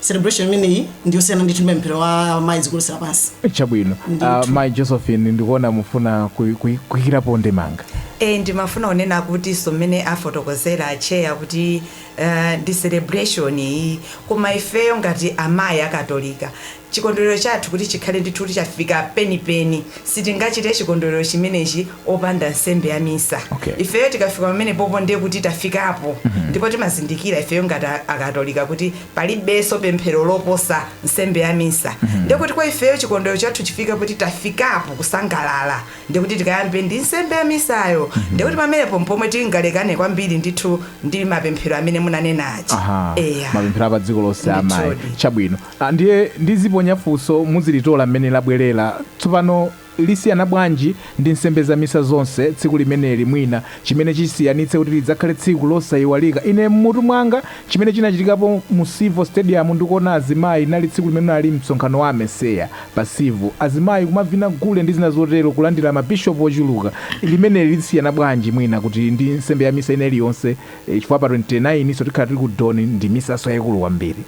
celebration imeneyi ndiyosiyana ndithu ndi mapemphero a mayi dziko lonse lapansi chabwino uh, mai josephine ndikuona mufuna kuy- kuy- kuyikirapo ndemanga e ndimafuna kunena kuti zoona mmene afotokozera acheya kuti uh, ndi celebration iyi koma ifeyo ngati amayi akatolika chikondwerero chathu kuti chikhale ndithu kuti chafika penipeni Sitingachite chikondwerero chimenechi opanda nsembe ya misa. Okay. Ifeyo tikafika pamenepopo ndiye kuti tafikapo ndipo timazindikira ifeyo ngati a- akatolika kuti palibenso pemphero loposa nsembe ya misa. Ndiye kuti kwa ifeyo chikondwerero chathu chifika kuti tafikapo kusangalala. Ndiye kuti tikayambe ndi nsembe ya misayo. Ndiye kuti pamenepo mpomwe tingalekane kwambiri ndithu ndi mapemphero amene munanena aja. Aha. Eya. Mapemphero apa dziko lonse amayi. Ndithudi. Chabwino. A, Ndiye ndiziponya funso muzilitola mmene labwerera. Tsopano, lisiyana bwanji ndi nsembe za misa zonse tsiku limeneli, mwina, chimene chisiyanitse kuti lidzakhale tsiku losaiwalika? Ine mmutu mwanga, chimene chinachitikapo mu Civo Stadium ndi kuona azimayi, linali tsiku limene unali msonkhano wa AMECEA pa Civo. Azimayi kumavina gule ndi zina zotero, kulandira ma Bishop ochuluka. Limeneli lisiyana bwanji mwina kuti ndi nsembe ya misa ina iliyonse, chifukwa pa 29 nso tikhala tili ku Don ndi misanso yaikulu kwambiri.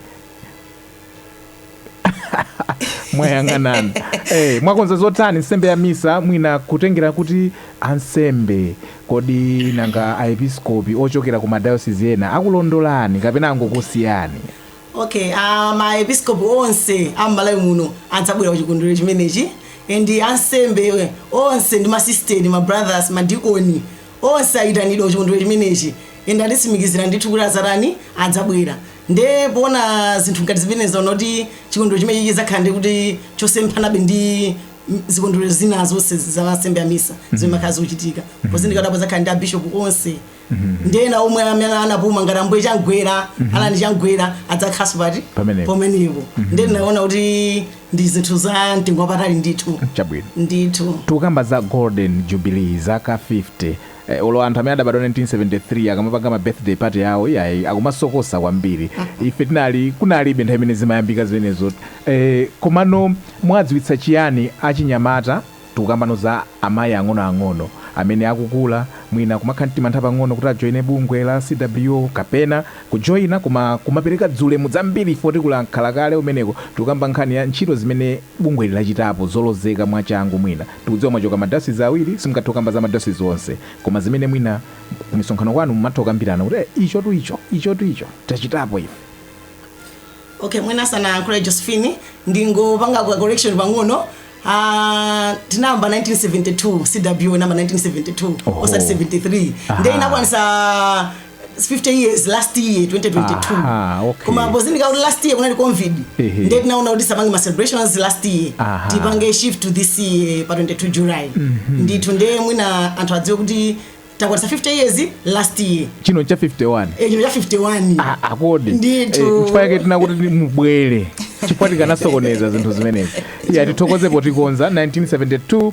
mwayang'anana hey, eh, mwakonza zotani nsembe ya misa mwina kutengera kuti ansembe kodi nanga aepiskopi ochokera ku madayosisi ena akulondolani kapena angokusiyani okay uh, ah, maepiskopi onse am'malawi muno adzabwera kuchikondwerero chimenechi and ansembe eh, onse ndi masisitere mabrothers madikoni onse ayitanidwa kuchikondwerero chimenechi and atitsimikizira ndithu kuti azatani adzabwera Nde poona zinthu ngati zimenezi taona kuti chikondwerero chimenechi chidzakhala ndi kuti chosemphanabe ndi m- zikondwerero zina zonse za nsembe ya misa zomwe zimakhala zikuchitika pozindikira kuti padzakhala ndi abishopu onse ndi ena omwe amene anapuma ngati ambuye chamgwera Allan Chamgwera adzakhalanso pati Pamenepo. pomenepo nde ndinaona kuti ndi zinthu za mtengo wapatali ndithu chabwino ndithu tikukamba za golden jubilee zaka 50 Eh, olo anthu amene adabadwa 1973 akamapanga ma birthday party yawo iyayi akumasokosa kwambiri ife tinali kunalibe nthawi imene zimayambika zimenezo eh, komano mwadziwitsa chiyani achinyamata tikukambano za amayi ang'onoang'ono amene akukula mwina kumakhala ndi mantha pang'ono kuti ajoine bungwe la cwo kapena kujoina koma kumapereka zolemba zambiri ife tikulankhula kale umeneko tikukamba nkhani ya ntchito zimene bungweli lachitapo zolozeka mwachangu mwina tikudziwa mwachoka ma diocese awiri simungathe kukamba za ma diocese onse koma zimene mwina kumisonkhano kwanu mumatha kukambirana kuti eh ichotu icho ichotu icho tachitapo ife. Okay, mwina asanayankhule Josephine ndingopanga ka correction pang'ono Ah, tinayamba 1972 cw inayamba 1972 Oho. osati 73 Aha. nde inakwanisa 50 years last year 2022 Aha, okay. koma pozindikira kuti last year kunali covid Ehe. ndiye tinaona kuti tisapange ma celebrations last year Aha. tipange shift to this year pa 22 july ndithu ndiye mwina anthu adziwe kuti takwanisa 50 years last year chino cha 51 Eh, chino cha 51 Ah, akodi Ndithu. Eh, chifukwa yake tinakuti mubwere chifukwa tikanasokoneza zinthu zimenezi ayi tithokoze potikonza 1972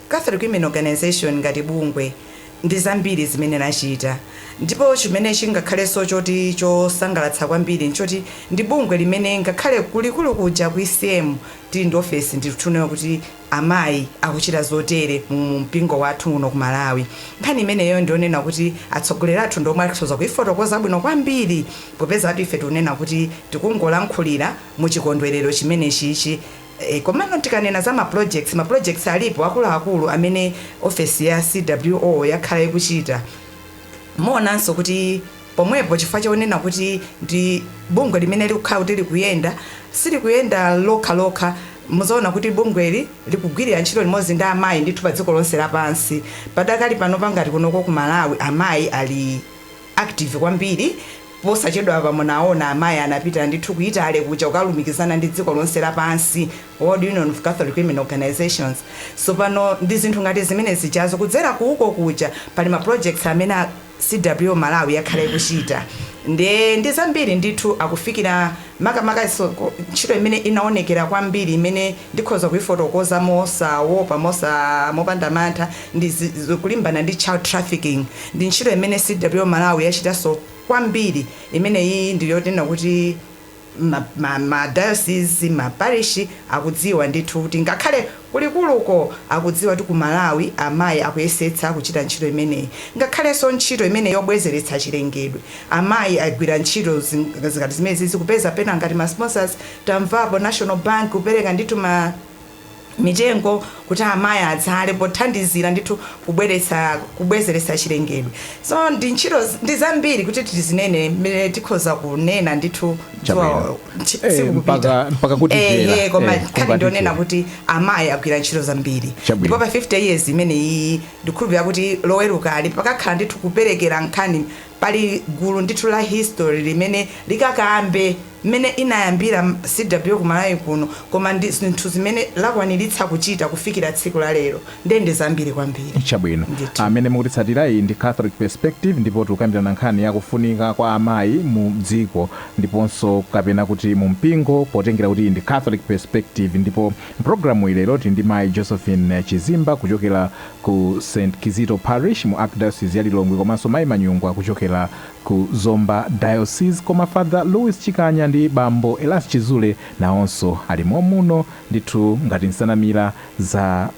Catholic Women Organization ngati bungwe ndi zambiri zimene lachita ndipo chimene chingakhalenso choti chosangalatsa kwambiri n'choti ndi bungwe limene ngakhale ku likulu kuja ku ECM tili ndi ofesi ndithu kunena kuti amayi akuchita zotere mu mpingo wathu uno ku Malawi. Nkhani imeneyo ndi yonena kuti atsogoleri athu ndi omwe akhoza kuifotokoza bwino kwambiri popeza kuti ife tikunena kuti tikungolankhulira mu chikondwerero chimenechichi Eeh komano tikanena za ma projects, ma projects alipo akuluakulu amene ofesi ya CWO yakhala ikuchita. Muonanso kuti pomwepo chifukwa chonena kuti ndi bungwe limene likukhala kuti likuyenda, silikuyenda lokhalokha, mudzaona kuti bungweli likugwirira ntchito limodzi ndi amayi ndithu padziko lonse lapansi. Padakali panopa ngati kunoko ku Malawi amayi ali. active kwambiri. Posachedwapa munaona amayi anapita ndithu ku Italy kuja kukalumikizana ndi dziko lonse lapansi, World Union of Catholic Women Organisations. Sopano ndi zinthu ngati zimene zijazo kudzera ku uko kuja pali ma projects amene a CWO Malawi akhala akuchita nde ndi zambiri ndithu akufikira makamaka ntchito imene inaonekera kwambiri imene Ndikhoza kuifotokoza mosawopa, mosa, mopanda mantha, ndi zi, zi, kulimbana ndi child trafficking. Ndi ntchito imene CWO Malawi yachitanso kwambiri. Imeneyi ndi yoti tinena kuti ma, ma, ma dayosizi, ma parishi akudziwa ndithu kuti ngakhale ku likuluko akudziwa kuti ku Malawi amayi akuyesetsa kuchita ntchito imeneyi. Ngakhalenso ntchito imene yobwezeretsa chilengedwe, amayi agwira ntchito zi, ngati zimenezi, kupeza pena ngati ma sponsors Tamvapo National Bank kupereka ndithu mitengo kuti amayi adzale pothandizira ndithu kubweretsa kubwezeretsa chilengedwe. So ndi ntchito ndi zambiri kuti tizinene mmene tikhoza kunena ndithu dzuwa tsiku kupita. Ehe koma nkhani ndionena kuti amayi agwira ntchito zambiri. Ndipo pa 50 years imene iyi ndikhulupira kuti loweruka ali pakakhala ndithu kuperekera nkhani Pali gulu ndithu la history limene likakambe mmene inayambira CWO ku Malawi kuno koma ndi zinthu zimene lakwaniritsa kuchita kufikira tsiku la lero ndiye ndi zambiri kwambiri Chabwino. Amene mukutitsatira iyi ndi Catholic Perspective ndipo tikukambirana nkhani ya kufunika kwa amayi mu dziko ndiponso kapena kuti mu mpingo potengera kuti iyi ndi Catholic Perspective ndipo mu pulogalamuyi lero tili ndi mayi Josephine Chizimba kuchokera ku St Kizito Parish mu Archdiocese ya Lilongwe komanso Mai Manyungwa kuchokera ku Zomba Diocese koma Father Louis Chikanya ndi Bambo Elas Chizule nawonso alimo muno ndithu ngati nsanamira za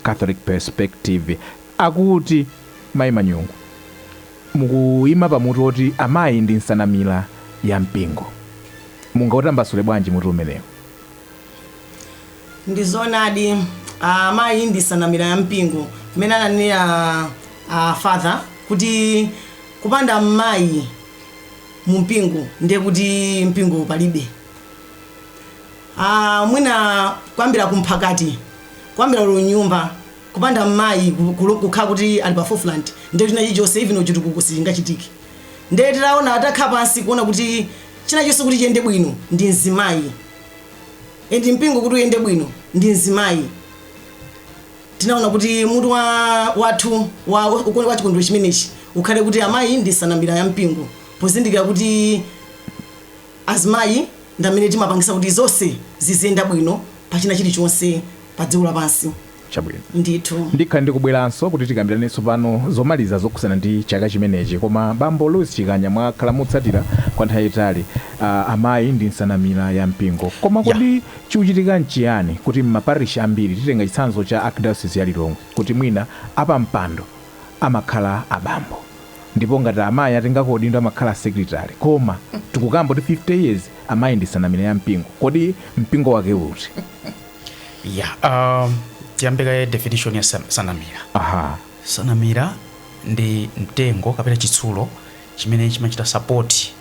Catholic Perspective akuti Mai Manyungwa mukuima pa mutu woti amayi ndi nsanamira ya mpingo mungautambasule bwanji mutu umenewu? Ndi zoonadi amayi ndi nsanamira ya mpingo mmene ananenera a father kuti kupanda mayi mu mpingo ndiye kuti mpingo palibe. A mwina kuyambira ku mphakati kuyambira olo nyumba kupanda mayi kukhala kuti ali pa forefront ndiye kuti china chilichonse even chitukuko sichingachitike. nde titaona titakhala pansi kuona kuti china chonse kuti chiyende bwino ndi mzimayi and mpingo kuti uyende bwino ndi mzimayi tinaona kuti mutu wa wathu wa chikondwerero chimenechi ukhale kuti amayi ndi nsanamira ya mpingo pozindikira kuti azimayi ndamene timapangisa kuti zonse ziziyenda bwino pachina chilichonse pa dziko lapansi Chabwino. Ndithu. Ndikhala ndikubweranso kuti tikambirane tsopano zomaliza zokhudzana ndi chaka chimenechi. Koma Bambo Louis Chikanya mwakhala mukutsatira kwa nthawi yaitali amayi ndi nsanamira ya mpingo. Koma kodi chikuchitika nchiyani kuti m'ma parish ambiri, titenga chitsanzo cha Archdiocese ya Lilongwe, kuti mwina apampando amakhala abambo? Ndipo ngati amayi atengako udindo amakhala secretary. Koma tikukamba kuti 50 years amayi ndi nsanamira ya mpingo. Kodi mpingo wake uti? ya um, tiyambe kaye definition ya san- sanamira aha sanamira ndi mtengo kapena chitsulo chimene chimachita sapoti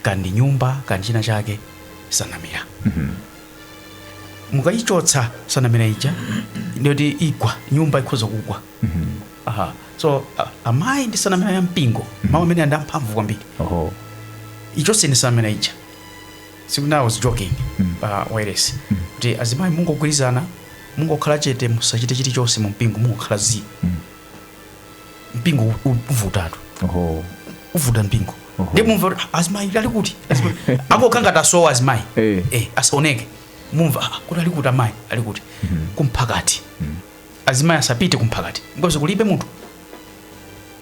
kaya ndi nyumba kaya ndi china chake sanamira mukayichotsa sanamira ija ndiye kuti igwa nyumba ikhoza kugwa aha so a- amayi ndi sanamira ya mpingo mawu amenewa ndi amphamvu kwambiri oho ichotseni sanamira ija tsiku lina I was joking pa wireless kuti azimayi mungogwirizana mungokhala chete musachite chilichonse mu mpingo mungokhala zii mpingo u- u- uvutatu Oho. uvuta mpingo Oho. ndiye mumva kuti, "Ah, azimayi ali kuti Azimayi." angokhala ngati asowa azimayi Eh. eh, asaoneke mumva "Ah, kuti ali kuti amayi ali kuti kumphakati azimayi asapite kumphakati because kulibe munthu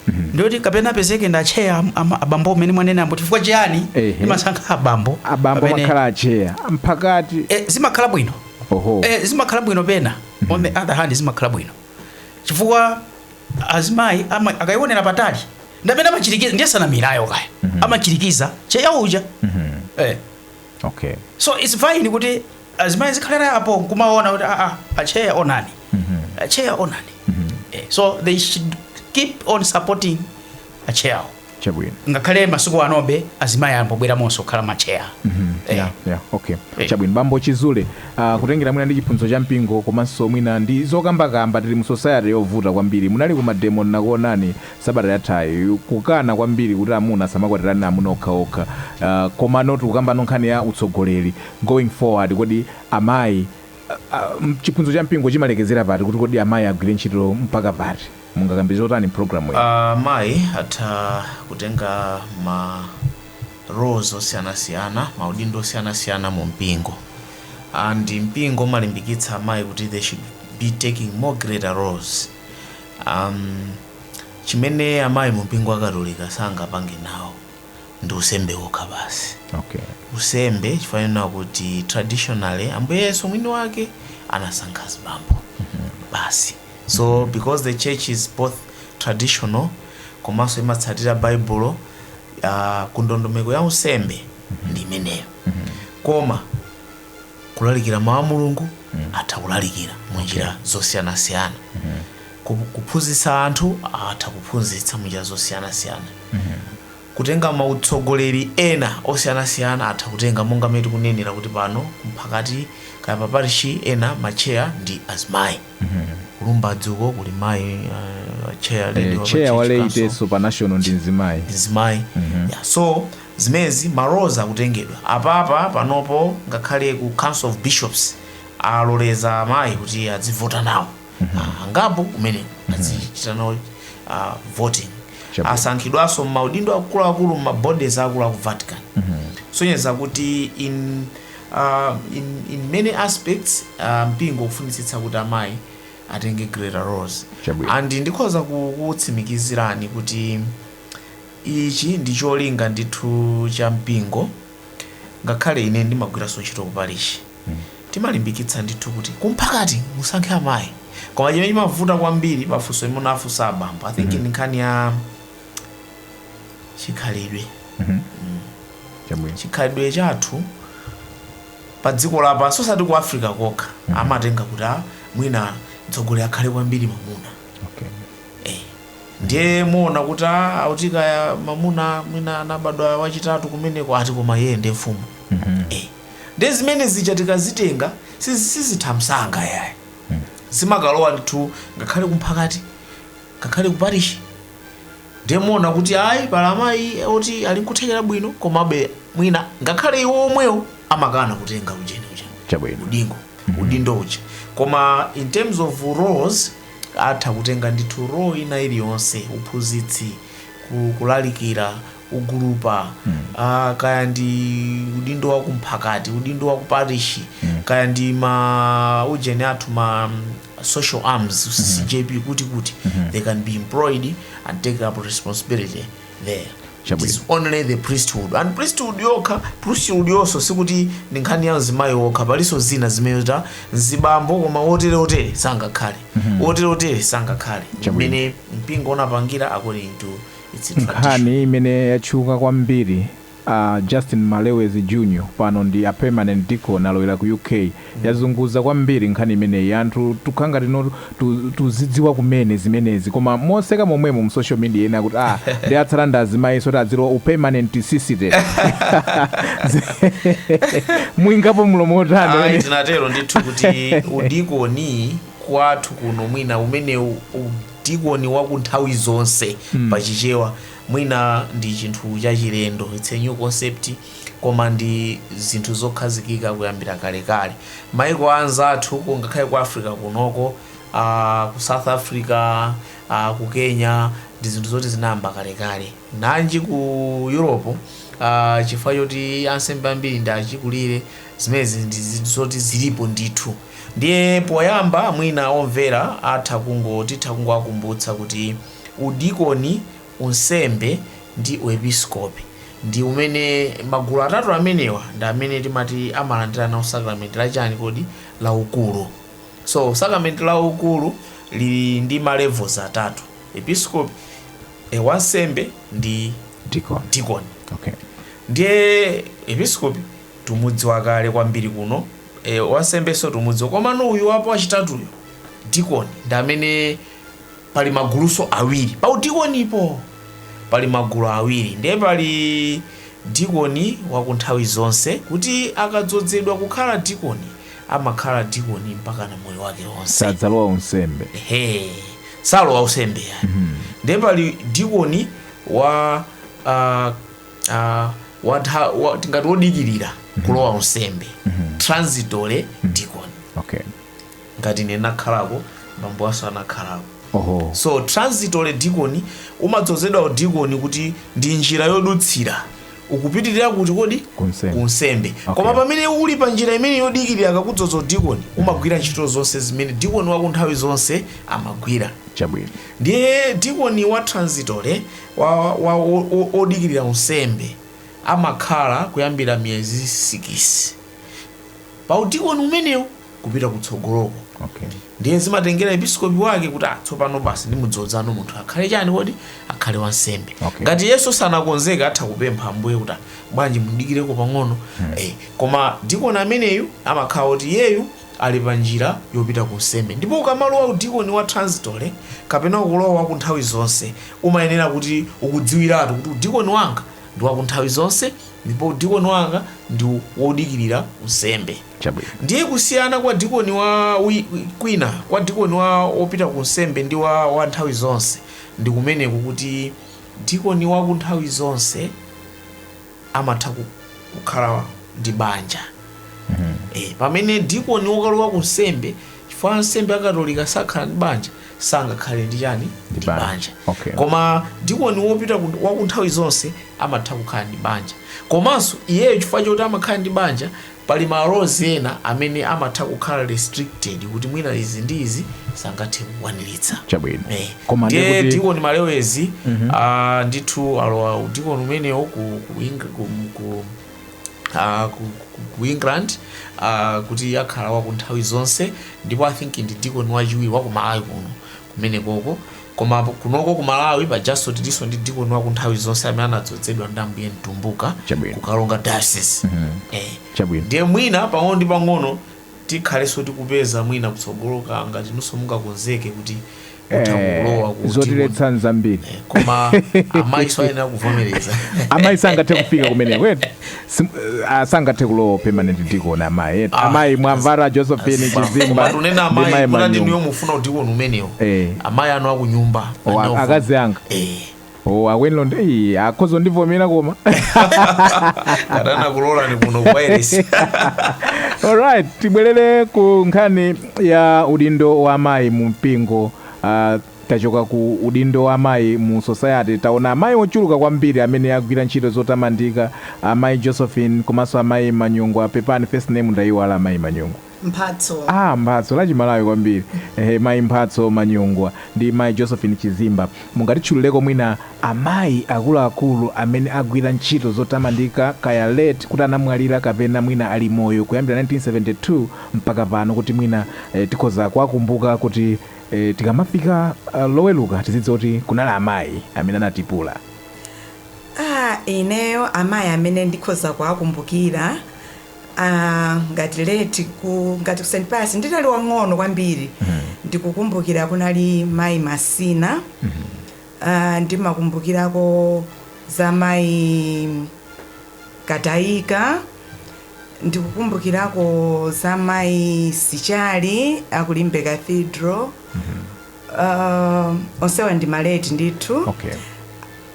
ndiye kuti kapena apezeke ndi atcheya am- ama- abambo amene mwanenawo chifukwa chiyani Ehe. timasankha abambo abambo amene- amakhala atcheya a mphakati Eh, zimakhala bwino oho Eh, zimakhala bwino pena on the other hand zimakhala bwino chifukwa azimayi ama- akayionera patali ndi amene amachirikiza ndiye sanamirayo kaya amachirikiza tcheya uja Eh, Okay. so it's fine kuti azimayi azikhalira apo nkumaona kuti aa atcheya onani atcheya onani Eh, so they should keep on supporting atcheyawo Chabwino. ngakhale masiku anobe azimayi amabweramonso kukhala matcheya Eh, Yeah, yeah, okay. Eh. Chabwino bambo Chizule, uh, kutengera mwina ndi chiphunzitso cha mpingo komanso mwina ndi zokambakamba tili mu society yovuta kwambiri. Munali ku mademo ndinakuonani sabata yathayi kukana kwambiri kuti amuna asamakwatirane amuna okhaokha komano tikukambano nkhani ya utsogoleri going forward kodi amayi chiphunzitso cha mpingo chimalekezera pati kuti kodi amayi agwire ntchito mpaka pati mungakambe zotani mpulogalamu iyi amayi atha kutenga ma roles osiyanasiyana maudindo osiyanasiyana mu mpingo and mpingo umalimbikitsa amayi kuti they should be taking more greater roles um, chimene amayi mu mpingo wa katolika sangapange nawo ndi usembe wokha basi okay usembe chifukwa chakuti traditionally ambuye yesu mwini wake anasankha azibambo basi so because the church is both traditional komanso imatsatira baibulo uh, kundondomeko ya usembe ndi imeneyo koma kulalikira mawu a mulungu atha kulalikira mu njira zosiyanasiyana Ku- kuphunzitsa anthu atha kuphunzitsa mu njira zosiyanasiyana kutenga mautsogoleri ena osiyanasiyana atha kutenga monga mmene tikunenera kuti pano mphakati kaya maparishi ena matcheya ndi azimayi ku Lumbadzi uko kuli mayi uh, chair lady Eh, wa chair wa Church Council wa laity pa national ndi mzimayi mzimayi yeah, so Zimenezi ma roles akutengedwa apapa panopo ngakhale ku council of bishops aloleza amayi kuti adzivota nawo angapo kumeneko adzichita nawo voting Chabwino. asankhidwanso mmaudindo akuluakulu mma bodies akulu aku Vatican kusonyeza kuti in, uh, in, in many aspects uh, mpingo ukufunitsitsa kuti amayi atenge greater roles Chabwino. and ndikhoza ku- kukutsimikizirani kuti Ichi ndi cholinga ndithu cha mpingo. Ngakhale ine ndimagwiranso ntchito ku parishi, timalimbikitsa ndithu kuti ku mphakati musankhe amayi. Koma chimene chimavuta kwambiri pa funso limene afunsa abambo, I think ndi nkhani ya chikhalidwe. Chabwino. Chikhalidwe chathu pa dziko lapansi osati ku Africa kokha, amatenga kuti a, mwina mtsogoleri akhale kwambiri mamuna. Okay. Eh. Ndiye muona kuti aah oti kaya mamuna mwina anabadwa wachitatu kumeneko ati koma iyeye ndi mfumu eh. Ndiye zimene zija tikazitenga sizi sizitha msanga yayi zimakalowa ndithu ngakhale kumphakati ngakhale kuparishi ndiye muona kuti ayi pali amayi oti ali nkuthekera bwino komabe mwina ngakhale iwo omwewo amakana kutenga ujeni uja Chabwino. udingo udindo uja koma in terms of roles atha kutenga ndithu role ina iliyonse, uphunzitsi, ku kulalikira, ugulupa, a, kaya ndi udindo wa kumphakati, udindo wa ku parishi, kaya ndi ma ujeni athu ma mm, social arms, CCJP, kuti kuti, they can be employed and take up responsibility there it Chabwino. is only the priesthood and priesthood yokha priesthood yonso sikuti ndi nkhani ya mzimayi wokha palinso zina zimene ati mzibambo koma wotere wotere sangakhale wotere wotere sangakhale Chabwino. imene mpingo unapangira according to its tradition nkhani imene yatchuka kwambiri Justin Malewezi Junior pano ndi a permanent deacon alowera ku UK. Yazunguza kwambiri nkhani imeneyi. Anthu tukhala ngati tino tuzidziwa kumene zimenezi koma moseka momwemo mu social media ena akuti ah ndi atsala ndi azimayinso oti azilowa u permanent sisite. Muikapo mlomo otani Ndinatero ndithu kuti udikoni kwathu kuno mwina umene udikoni wa ku nthawi zonse pa chichewa Mwina ndi chinthu chachilendo, it's a new concept, koma ndi zinthu zokhazikika kuyambira kalekale. Maiko anzathu ku ngakhale ku Africa kunoko, aah ku South Africa, aah ku Kenya, ndi zinthu zoti zinayamba kalekale. Nanji ku Europe, aah chifukwa choti ansembe ambiri ndi achikulire, zimenezi ndi zinthu zoti zilipo ndithu. Ndiye poyamba mwina omvera atha kungo titha kungowakumbutsa kuti. udikoni, unsembe ndi uepiskopi ndi umene magulu atatu amenewa ndi amene timati amalandira nawo sakramenti la chani kodi la ukulu so sakramenti la ukulu lili ndi ma levels atatu episkopi e, wansembe ndi dikoni dikoni okay ndiye episkopi tumudziwa kale kwambiri kuno e, wansembenso tumudziwa komano uyu wapo wachitatuyo dikoni ndi amene pali maguluso awiri pa udikonipo pali magulu awiri ndiye pali dikoni wakunthawi zonse kuti akadzodzedwa kukhala dikoni amakhala dikoni mpaka na moyo wake wonse sadzalowa unsembe ehe salowa unsembe yani ndiye pali dikoni wa ah, ah, wa ntha- wa- tingati wodikirira kulowa unsembe transitory dikoni okay ngati ine ndinakhalako bambo anso anakhalako Oho. so transitory deacon umadzozedwa udikoni kuti ndi njira yodutsira ukupitirira kuti kodi Kunsembe. kunsembe Okay. koma pamene uli pa njira imene yodikirira akakudzoza udikoni umagwira ntchito zonse zimene dikoni wa kunthawi zonse amagwira Chabwino. ndiye dikoni wa transitory wa, wa, o- o- odikirira unsembe amakhala kuyambira miyezi 6 pa udikoni umenewu kupita kutsogoloko okay. ndiye zimatengera episkopi wake kuti ah, tsopano basi ndimudzodzano munthu akhale chani kodi akhale wansembe okay. ngati iyenso sanakonzeke atha kupempha ambuye kuti ah, bwanji mundidikireko pang'ono hmm. eh, koma dikoni ameneyu amakhala kuti iyeyu ali pa njira yopita ku nsembe ndipo ukamalowa udikoni wa transitory kapena ukulowa waku nthawi zonse umayenera kuti ukudziwiratu kuti udikoni wanga ndi waku nthawi zonse Ndipo udikoni wanga ndi wodikirira unsembe. Chabwino. Ndiye kusiyana kwa dikoni wa, wi, kwina, kwa dikoni wa, wopita ku unsembe ndi wa, wa nthawi zonse, ndi kumeneko kuti dikoni wa ku nthawi zonse amatha ku, kukhala ndi banja. E, pamene dikoni wokalowa ku nsembe, chifukwa ansembe a Katolika sakhala ndi banja, sangakhale ndi chani Ndi ndi banja. banja Okay. koma dikoni wopita ku- wa ku nthawi zonse amatha kukhala ndi banja komanso iyeyo chifukwa choti amakhala ndi banja pali malozi ena amene amatha kukhala restricted kuti mwina izi ndi izi sangathe kukwaniritsa chabwino Eh, koma ndiye ndiye kuti dikoni malewezi ah, ndithu alowa udikoni umenewo ku, ku, Eng- ku, ku, uh, ku, ku, ku england uh, kuti akhala waku nthawi zonse ndipo i think ndi dikoni wachiwiri waku malawi kuno kumenekoko koma kunoko ku malawi pajanso tilinso ndi dikoni waku nthawi zonse amene anadzodzedwa ndi ambuye mtumbuka Chabwino. ku karonga diocese eh. Chabwino. ndiye mwina pang'ono ndi pang'ono tikhalenso tikupeza mwina kutsogoloko ngati inunso mungakonzeke kuti mutha kulowa ku zotiletsa n'zambiri koma amayinso ayenera kuvomereza amayi sangathe kufika kumeneko eti Sim- ah, sangathe kulowa permanent deacon amayi eti amayi mwamvara josephine chizimba tikunena ndi amayi mayi kuti ndinuyo manyumba mufuna udikoni umenewo Eh. amayi anu akunyumba O, a- anawo- akazi anga Eh. Oh, akwenilo ndi eyi, akhoza ndivomera koma kadanakulolani kuno kwairesi alright tibwerere ku nkhani ya udindo wa amayi mu mpingo uh, tachoka ku udindo wa amayi mu society taona amayi ochuluka kwambiri amene agwira ntchito zotamandika amayi josephine komanso amayi manyungu apepani first name ndayiwala amayi manyungu Mphatso. Ah Mphatso, la chimalawi kwambiri ehe mai Mphatso Manyungwa ndi mai Josephine Chizimba mungatitchulireko mwina amayi akuluakulu amene agwira ntchito zotamandika kaya late kuti anamwalira kapena mwina ali moyo kuyambira 1972 mpaka pano kuti mwina eh tikhoza kuwakumbuka kuti eh tikamafika ah, loweluka tizidziwa kuti kunali amayi amene anatipula. Ah ineyo amayi amene ndikhoza kuwakumbukira Aaa ngati late ku ngati ku St Pius ndinali wang'ono kwambiri ndikukumbukira kunali mayi Masina aaa ndimakumbukirako za mayi Kataika ndikukumbukirako za mayi Sichali a ku Limbe Cathedral aaa onsewa ndi ma late ndithu Okay.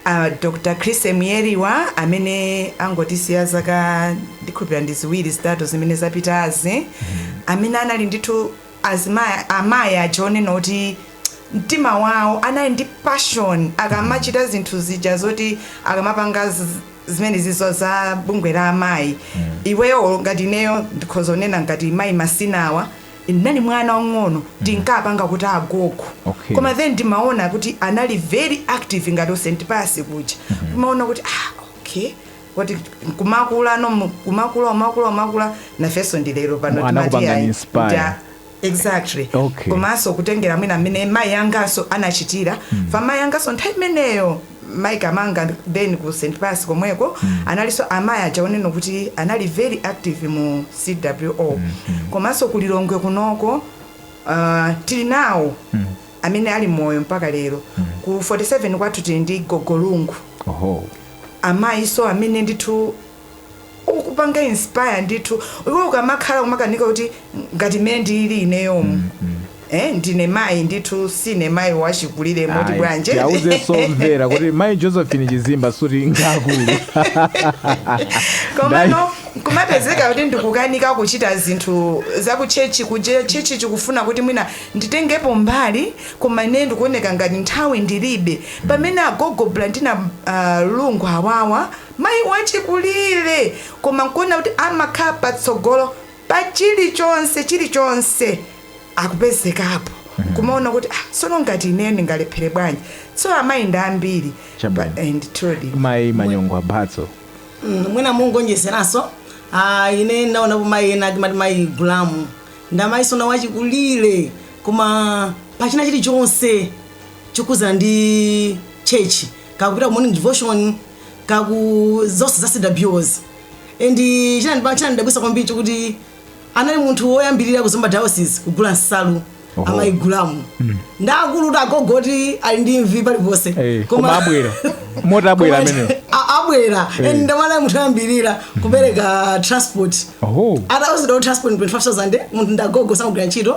A Dr Chrisy Myeliwa amene angotisiya zaka ndikhulupira ndi ziwiri zitatu zimene zapitazi amene anali ndithu amai aja onena kuti mtima wao anali ndi passion akamachita zinthu zija zoti akamapanga zi- zimenezizo za bungwe la amai iweyo ngati ineyo ndikhoza kunena ngati mai masinawa ndinali mwana wang'ono ndinkapanga kuti agogo Okay. koma then ndimaona kuti anali very active ngati ku St Pius kuja kumaona kuti ah okay kuti kumakula no mu- kumakula umakula umakula nafenso ndi lero pano Mwana timati kupanga ayi, inspire. kuti a- exactly Okay. komanso kutengera mwina mmene mayi anganso anachitira ifa mayi anganso nthawi imeneyo Mai Kamanga then ku St Pius komweko analinso amai aja onena kuti anali very active mu CWO komanso ku Lilongwe kunoko uh, tili nawo amene ali moyo mpaka lero ku 47 kwathu tili ndi Gogo Lungu Oho. amayiso amene ndithu okupanga inspire ndithu iwe ukamakhala kumakanika kuti ngati mmene ndilili ineyomu mm, mm. Eh, ndine mayi ndithu sine mayi wachikulire moti mwanji muwauzenso omvera kuti mayi josephine chizimba sikuti ngaakulu komano kumapezeka kuti ndikukanika kuchita zinthu zakutchetchi kuja tchetchi chikufuna kuti mwina nditengepo mbali koma ine ndikuoneka ngati nthawi ndilibe pamene agogo blandina uh, lungu awawa Mayi wachikulire, koma nkuona kuti amakhala patsogolo pa chilichonse, chilichonse akupezekapo, nkumaona kuti ah, tsono ngati ineyo ndingalephere bwanji? Tsono amayi ndi ambiri pa, Chabwino. eh, ndithudi. Mayi Manyongwa Mphatso. Mm, mwina mungonjezeranso ah, ine ndaonapo mayi ena timati mayi gulamu ndamayiso nawo achikulire koma pachina chilichonse chokhudzana ndi chechi kaya kupita ku morning devotion kaya ku zonse za cwos and chinandiba- chinandidabwisa kwambiri chokuti anali munthu woyambirira ku zomba diocese kugula nsalu Oho. amayi gulamu ndakulu kuti agogo oti ali ndi mvi paliponse Eh, koma abwera moti abwera amenewo A- abwera and ndamene anali munthu oyambirira kupereka transport oho atawuzidwa kuti transport 25000 munthu ndagogo samagwira ntchito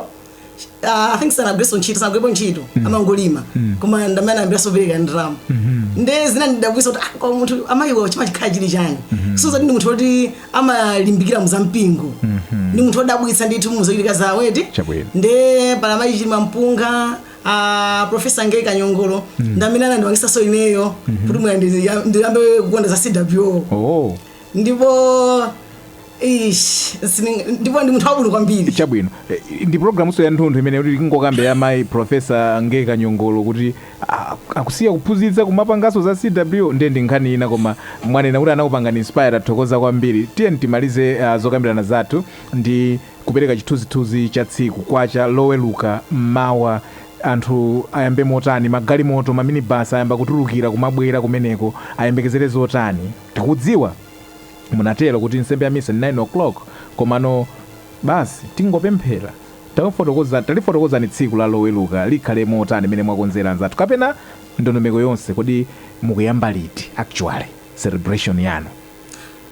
Ah, I think sanagwireso ntchito sanagwirepo ntchito amangolima koma ndamene ayambiraso kupereka ndalama nde zinandidabwisa kuti ah, kwa munthu amayiwa chimakhala chili chani soza ndi munthu woti amalimbikira mu zampingo ndi munthu wodabwitsa ndithu muzochitika zawo eti Chabwino. nde pali amayi chilimampunga a profesa ngeyi kanyongolo ndamene anandipangisaso ineyo kuti mwina ndiyambe kukonda za cwo oh ndipo Eish, sini- ndipo ndi munthu wabwino kwambiri chabwino Eh, ndi programunso ya nthunthu imene kuti tingokambe ya mayi profesa ngeyi kanyongolo kuti ah, akusiya kuphunzitsa kumapanganso za cw ndiye ndi nkhani ina koma mwanena kuti anakupangani inspire tathokoza kwambiri tiyeni timalize ah, zokambirana zathu ndi kupereka chithunzithunzi cha tsiku kwacha loweluka mmawa anthu ayambe motani magalimoto maminibasi ayamba kutulukira kumabwera kumeneko ayembekezere zotani tikudziwa munatero kuti nsembe ya misa ndi 9:00 komano basi tingopemphera talifotokozani tsiku la loweruka likhale motani mene mwakonzera anzathu kapena ndondomeko yonse kodi mukuyamba liti actually celebration yanu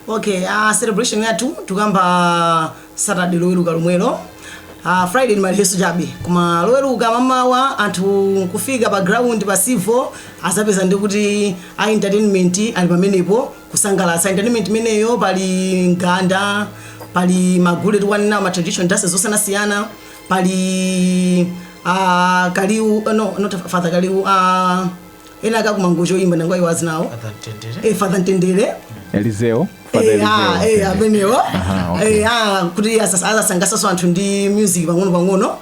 okay uh, celebration yathu tikuyamba saturday loweruka lomwelo uh, friday ni ma rehearsal chabe koma loweruka mamawa anthu kufika pa ground pa civo azapeza ndi kuti a entertainment ali pamenepo kusangalatsa entertainment imeneyo pali mganda pali magule tikunena ma traditional dances zosiyanasiyana pali uh, kaliu uh, no not father kaliu uh, ena ake aku mangochi oimba ndangoiwala dzina lawo Father Mtendere. eh, father mtendere elizeo Father Eh, ah, Elizeo. eh, amenewo Aha, okay. Eh, ah, kuti asas- azasangalatsaso anthu ndi music pang'ono pang'ono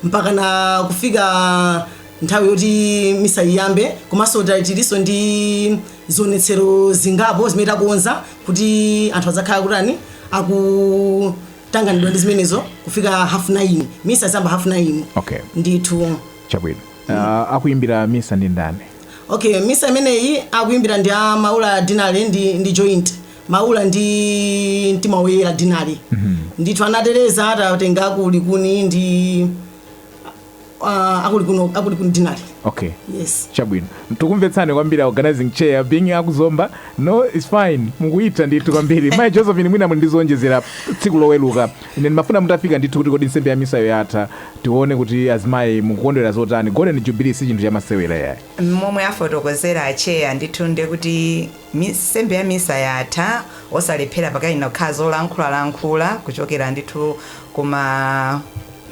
mpaka na kufika nthawi yoti misa iyambe komanso ta- tilinso ndi zionetsero zingapo zimene takonza kuti anthu adzakhala kutani akutanganidwa ndi zimenezo kufika half 9 misa izamba half 9 Okay. ndithu chabwino uh, akuimbira misa ndi ndani okay misa imeneyi akuimbira ndi a maula deanery ndi, ndi joint maula ndi mtima woyera deanery ndithu anatereza atatenga a ku likuni ndi uh, a ku likuni a ku likuni deanery okay yes chabwino tikumvetsani kwambiri a organizing chair being akuzomba no it's fine mukuchita ndithu kwambiri mayi josephine mwina muli ndizowonjezera tsiku loweluka ine ndimafuna mutafika ndithu kuti kodi nsembe ya misayo yatha tione kuti azimayi mukukondwera zotani golden jubilee si chinthu chamasewera yayi momwe afotokozera acheya ndithu nde kuti Nsembe ya misa yatha osalephera pakuyenera kukhala zolankhula lankhula kuchokera ndithu ku ma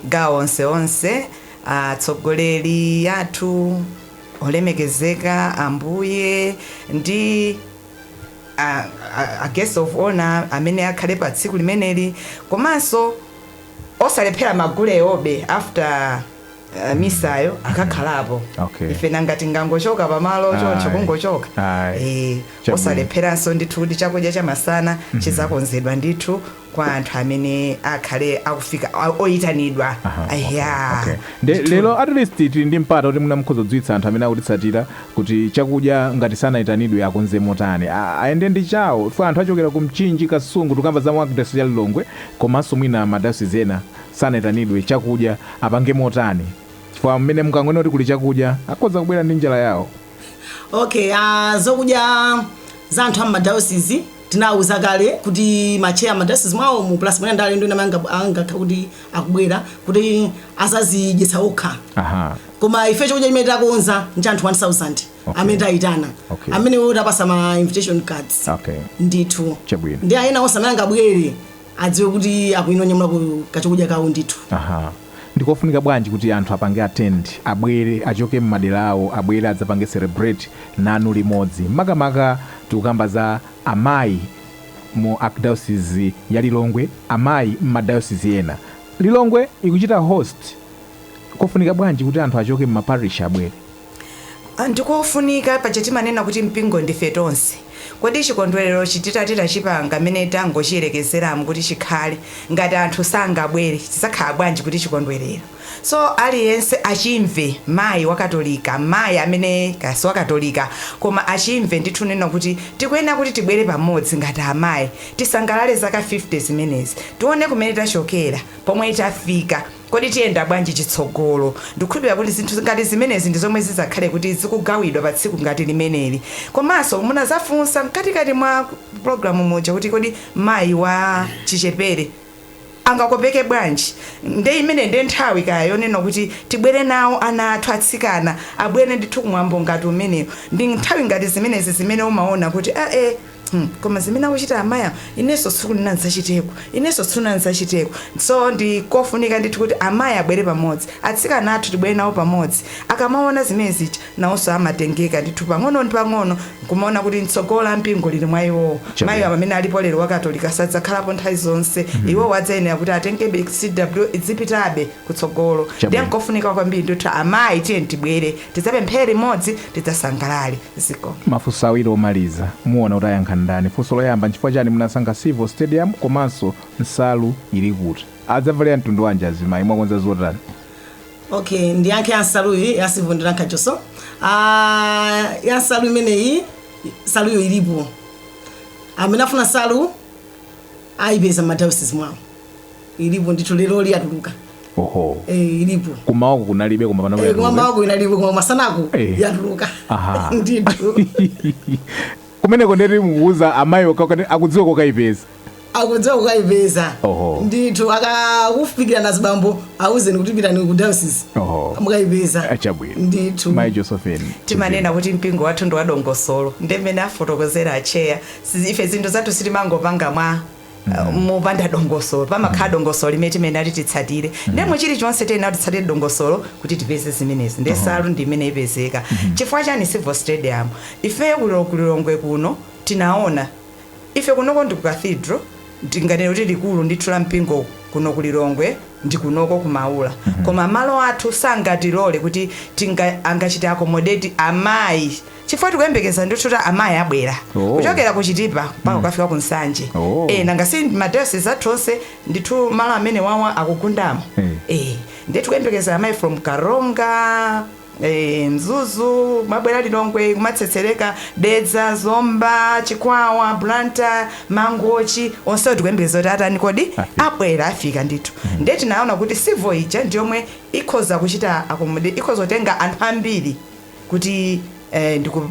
gawo onse onse a tsogoleri athu olemekezeka ambuye ndi a, a, a guest of honor amene akhale pa tsiku limeneli komanso osalephera magulewo be after eh, misayo akakhalapo Okay. ife nanga tingangochoka pamalo choncho Ayi. kungochoka Ayi. Eh, Chabwino. osalepheranso ndithu kuti chakudya chamasana chizakonzedwa ndithu kwa anthu amene akhale akufika a- oyitanidwa Aha, okay, Aya. okay. Nde- Ndithu. lero at least tili ndi mpata kuti mwina mukhoza kudziwitsa anthu amene akutitsatira kuti chakudya ngati sanayitanidwe akonze motani A- ayende ndi chawo chifukwa anthu achokera ku mchinji kasungu tikukamba za mu archdiocese ya lilongwe komanso mwina madayosizi ena sanaitanidwe chakudya apange motani chifukwa mmene mukangonena kuti kuli chakudya akhoza kubwera ndi njala yawo okay uh, zokudya za anthu amumadayosizi tinawuza kale kuti macheya amadayosizi mwawo mu plus mwina ndale ndona manga- angakha kuti akubwera kuti azazidyetsa okha aha koma ife chakudya chimene takonza ndi anthu 1000 Okay. amene tayitana Okay. amenewo tapatsa ma invitation cards okay ndithu Chabwino. nde ena onse amene angabwere adziwe kuti akuyenera kunyamulako kachakudya kawo ndithu. Aha. Ndikofunika bwanji kuti anthu apange attend, abwere, achoke mmadera awo, abwere adzapange celebrate nanu limodzi. Makamaka tikukamba za amayi mu Archdiocese ya Lilongwe, amayi mma diocese ena. Lilongwe ikuchita host, nkofunika bwanji kuti anthu achoke mma parish abwere? Ndikofunika, paja timanena kuti mpingo ndife tonse. Kodi chikondwererochi titati tachipanga mmene tangochiyerekezeramu kuti chikhale, ngati anthu sangabwere chidzakhala bwanji kuti chikondwerero? So aliyense achimve, mayi wakatolika, mayi amene kaya siwakatolika koma achimve ndithu kunena kuti tikuyenera kuti tibwere pamodzi ngati amayi, tisangalale zaka 50 zimenezi. Tione kumene tachokera, pomwe tafika. Kodi tiyenda bwanji chitsogolo? Ndikukhulupilira kuti zinthu ngati zimenezi ndi zomwe zizakhale kuti zikugawidwa pa tsiku ngati limeneli. Komanso munazafunsa mkati kati mwa program muja kuti kodi mayi wa chichepere angakopeke bwanji? Nde imeneyi nde nthawi kaya yonena kuti tibwere nawo ana athu atsikana abwere ndithu ku mwambo ngati umenewo. Ndi nthawi ngati zimenezi zimene umaona kuti aah! Hmm koma zimene akuchita amayi awa inenso tsiku lina ndidzachiteko, inenso tsiku lina ndidzachiteko. So ndi kofunika ndithu kuti amayi abwere pamodzi, atsikana athu tibwere nawo pamodzi. Akamaona zimene zija nawonso amatengeka ndithu pang'ono ndi pang'ono nkumaona kuti tsogolo la mpingo lili mwa iwowo. Mayi awa amene alipo lero wa Katolika sadzakhalapo nthawi zonse, iwowo adzayenera kuti atengebe CWO idzipitabe kutsogolo. Ndiye nkofunika kwambiri ndithu amayi tiyeni tibwere. Tidzapemphere limodzi, tidzasangalale. Zikomo. Mafunso awiri omaliza, muona kuti ayankha ndani? Funso loyamba, nchifukwa chani munasankha Civo Stadium komanso nsalu ili kuti? Adzavalanso mtundu wanji azimayi? Mwakonza zotani? Okay, ndiyankhe ya nsaluyi ya Civo ndiyankha chonso. Ah, ya nsalu imeneyi, nsaluyo ilipo. Amene afuna nsalu ayipeza m'ma diocese mwawo. ilipo ndithu leroli yatuluka oho eh, ilipo kumawako kunalibe koma panopa Eh, yatuluka. koma mawako inalipo koma masanako Eh. yatuluka Aha. ndithu kumeneko nde kuti mukuuza amayi akakhale akudziwa kokayipeza akudziwa kokayipeza Oho. ndithu akakufikira nazibambo auzeni kuti pitani ku diocese Oho. mukayipeza achabwino ndithu mayi josephine timanena kuti mpingo wathu ndi wadongosolo ndi mmene afotokozera acheya ife zinthu zathu sitimangopanga mwa uh, mopanda dongosolo pamakhala dongosolo limene timayenera titsatire ndemwe chilichonse tiyenera titsatire dongosolo kuti tipeze zimenezi nde nsalu ndi imene ipezeka chifukwa chani civo stadium ifeyo kulo- kulilongwe kuno tinaona ife kunoko ndi ku cathedral ndinganene kuti likulu ndithu la mpingo kuno kulilongwe ndi kunoko kumaula koma malo athu sangatilole kuti tinga angachite accommodate amayi chifukwa tikuyembekeza ndithu kuti amayi abwera Oh. kuchokera ku chitipa mpaka kukafika ku nsanje Oh. eh, nanga si madayosizi athu onse ndithu malo amenewawa akugundamo Eh. eh, ndiye tikuyembekeza amayi from karonga eh, mzuzu kumabwera lilongwe kumatsetsereka dedza zomba chikwawa blantyre mangochi onsewo tikuyembekeza kuti atani kodi Afika. abwera afika ndithu ndiye tinaona kuti civo ija ndiyomwe ikhoza kuchita accommodate ikhoza kutenga anthu ambiri kuti eh, ndiku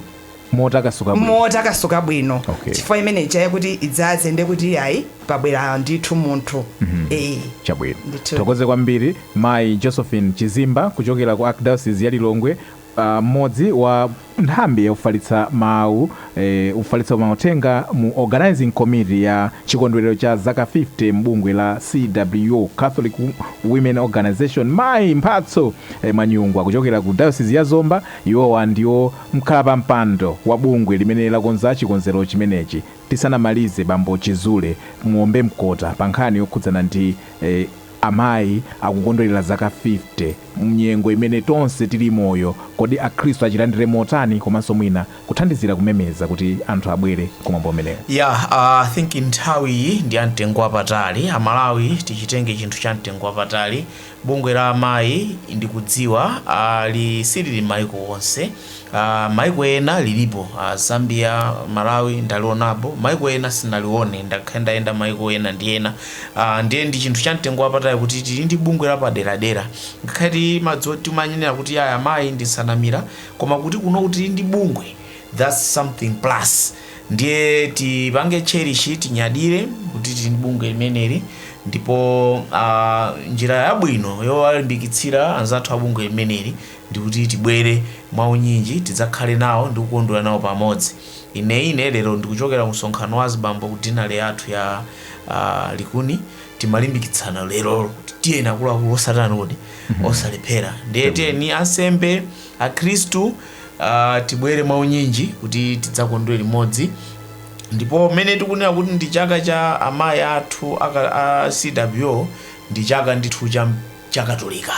motakasuka bwino motakasuka bwino Okay. chifukwa imeneija yakuti idzaze nde kuti ayi pabwera ndithu munthu Eh. chabwino Ndithu. tithokoze kwambiri mayi josephine chizimba kuchokera ku archdiocese ya lilongwe ah, mmodzi wa nthambi yakufalitsa mawu Ofalitsa mauthenga mu Organizing Committee ya chikondwerero cha zaka 50 m'bungwe la CWO, Catholic Women Organization, Mayi Mphatso Manyungwa kuchokera ku dayosizi ya Zomba, iwowa ndiwo mkhalapampando wa bungwe limene lakonza chikonzero chimenechi, tisanamalize Bambo Chizule muombe mkota pa nkhani yokhudzana ndi Amayi akukondwerera zaka 50 m'nyengo imene tonse tili moyo, kodi akhristu achilandire motani komanso mwina kuthandizira kumemeza kuti anthu abwere ku mwambo umenewu. Yeah, I think nthawi iyi ndi ya mtengo wapatali. A Malawi tichitenge chinthu cha mtengo wapatali. Bungwe la amayi ndikudziwa ali silili maiko onse. Uh, maiko ena lilipo uh, Zambia, Malawi ndalionapo, maiko ena sinalione, ndakhala ndikuyendayenda maiko ena ndi ena uh, ndiye ndi chinthu cha mtengo wapatali kuti tili ndi bungwe la paderadera ngakhale madzati timanenera kuti aya amayi ndi nsanamira koma kuti kuno kuti tili ndi bungwe thats something plus ndiye tipange cherish tinyadire kuti tili ndi bungwe limeneli ndipo uh, njira yabwino yowalimbikitsira anzathu a bungwe limeneli ndikuti tibwere mwaunyinji tidzakhale nawo ndi kukondwera nawo pamodzi ine ine lero ndikuchokera ku msonkhano wa azibambo ku dinale yathu ya uh, likuni timalimbikitsana lero kuti tiyeni akuluakulu osatani kuti osalephera ndiye tiyeni ansembe akhristu ah, tibwere mwaunyinji kuti tidzakondwere limodzi ndipo mmene tikunena kuti ndi chaka cha amayi athu aka- a cwo ndi chaka ndithu cha chakatolika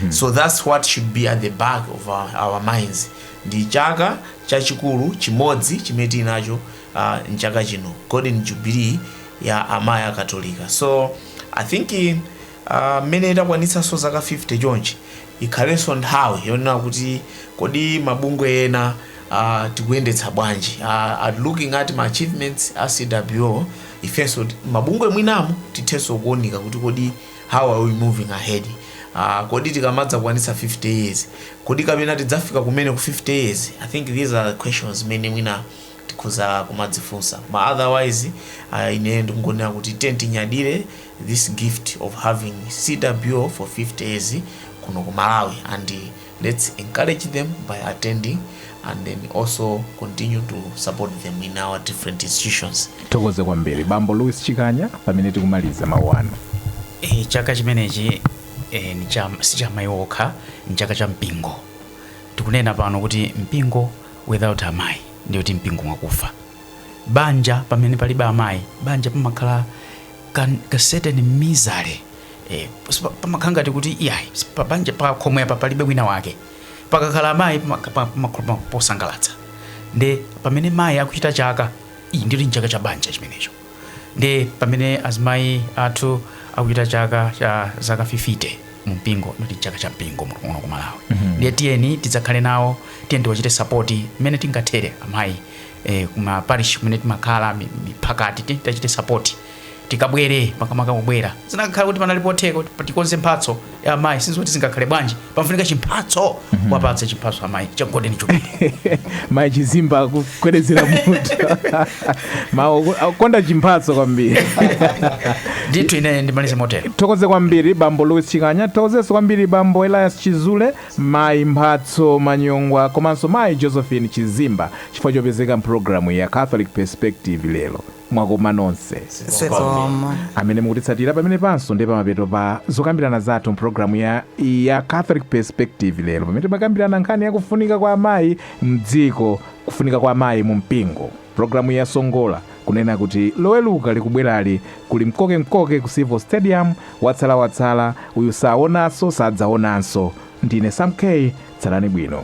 so thats what should be at the back of our, our minds ndi chaka chachikulu chimodzi chimene tili nacho uh, mchaka chino golden jubilee ya amayi akatolika so i think eh, Aaa mmene takwanitsanso zaka 50 chonchi ikhalenso nthawi yonena kuti kodi mabungwe ena aah tikuyendetsa bwanji aah at looking at ma achievements a CWO ifenso mabungwe mwinamu tithenso kuunika kuti kodi how are we moving ahead aah kodi tikamadzakwanitsa 50 years kodi kapena tidzafika kumene ku 50 years I think these are questions zimene mwina tikhoza kumadzifunsa koma otherwise aah ine ndikungonena kuti tiyeni tinyadire this gift of having CWO for 50 years kuno ku Malawi and let's encourage them by attending and then also continue to support them in our different institutions. Tithokoze kwambiri bambo Louis Chikanya pamene tikumaliza mawu anu. E, chaka chimenechi e, si cha amayi okha ni chaka cha mpingo tikunena pano kuti mpingo without amayi ndiye kuti mpingo mwakufa banja pamene palibe amayi banja pamakhala ka, ka certain misery eh, sipa- pamakhala ngati kuti iyayi pabanja pa khomo apa palibe wina wake pakakhala amayi pamaka- pa- pamakhala pa- posangalatsa nde pamene mayi akuchita chaka ndiye kuti nchaka cha banja chimenecho nde pamene azimayi athu akuchita chaka cha zaka 50 mu mpingo ndiye kuti nchaka cha mpingo muno muno ku malawi ndiye tiyeni tidzakhale nawo tiyeni tiwachite sapoti mmene tingathere amayi eh, kuma parish kumene timakhala mi- miphakati ti- tachite support tikabwere makamaka kubwera zinakakhala kuti panali potheka kuti tikonze mphatso ya amayi sizoti zingakhale bwanji pamfunika chimphatso kuwapatsa chimphatso amayi cha golden jubilee mayi chizimba akugwedeza mutu mawu akonda chimphatso kwambiri ndithu ine ndimalize motero tithokoze kwambiri bambo louis chikanya tithokozenso kwambiri bambo elias chizule Mayi Mphatso Manyongwa komanso Mayi Josephine Chizimba chifukwa chopezeka m'pulogalamuyi ya Catholic Perspective lero. Mwakoma nonse. Zikomo. Amene mukutitsatira pamenepanso ndiye pamapeto pa zokambirana zathu m'pulogalamu ya ya Catholic Perspective lero pamene timakambirana nkhani ya kufunika kwa amayi m'dziko, kufunika kwa amayi mumpingo. Programu ya Songola kunena kuti Loweluka likubwerali kuli mkoke mkoke ku Civil Stadium, watsala watsala, uyu saonaso sadzaonanso. Ndine Sam K, tsalani bwino.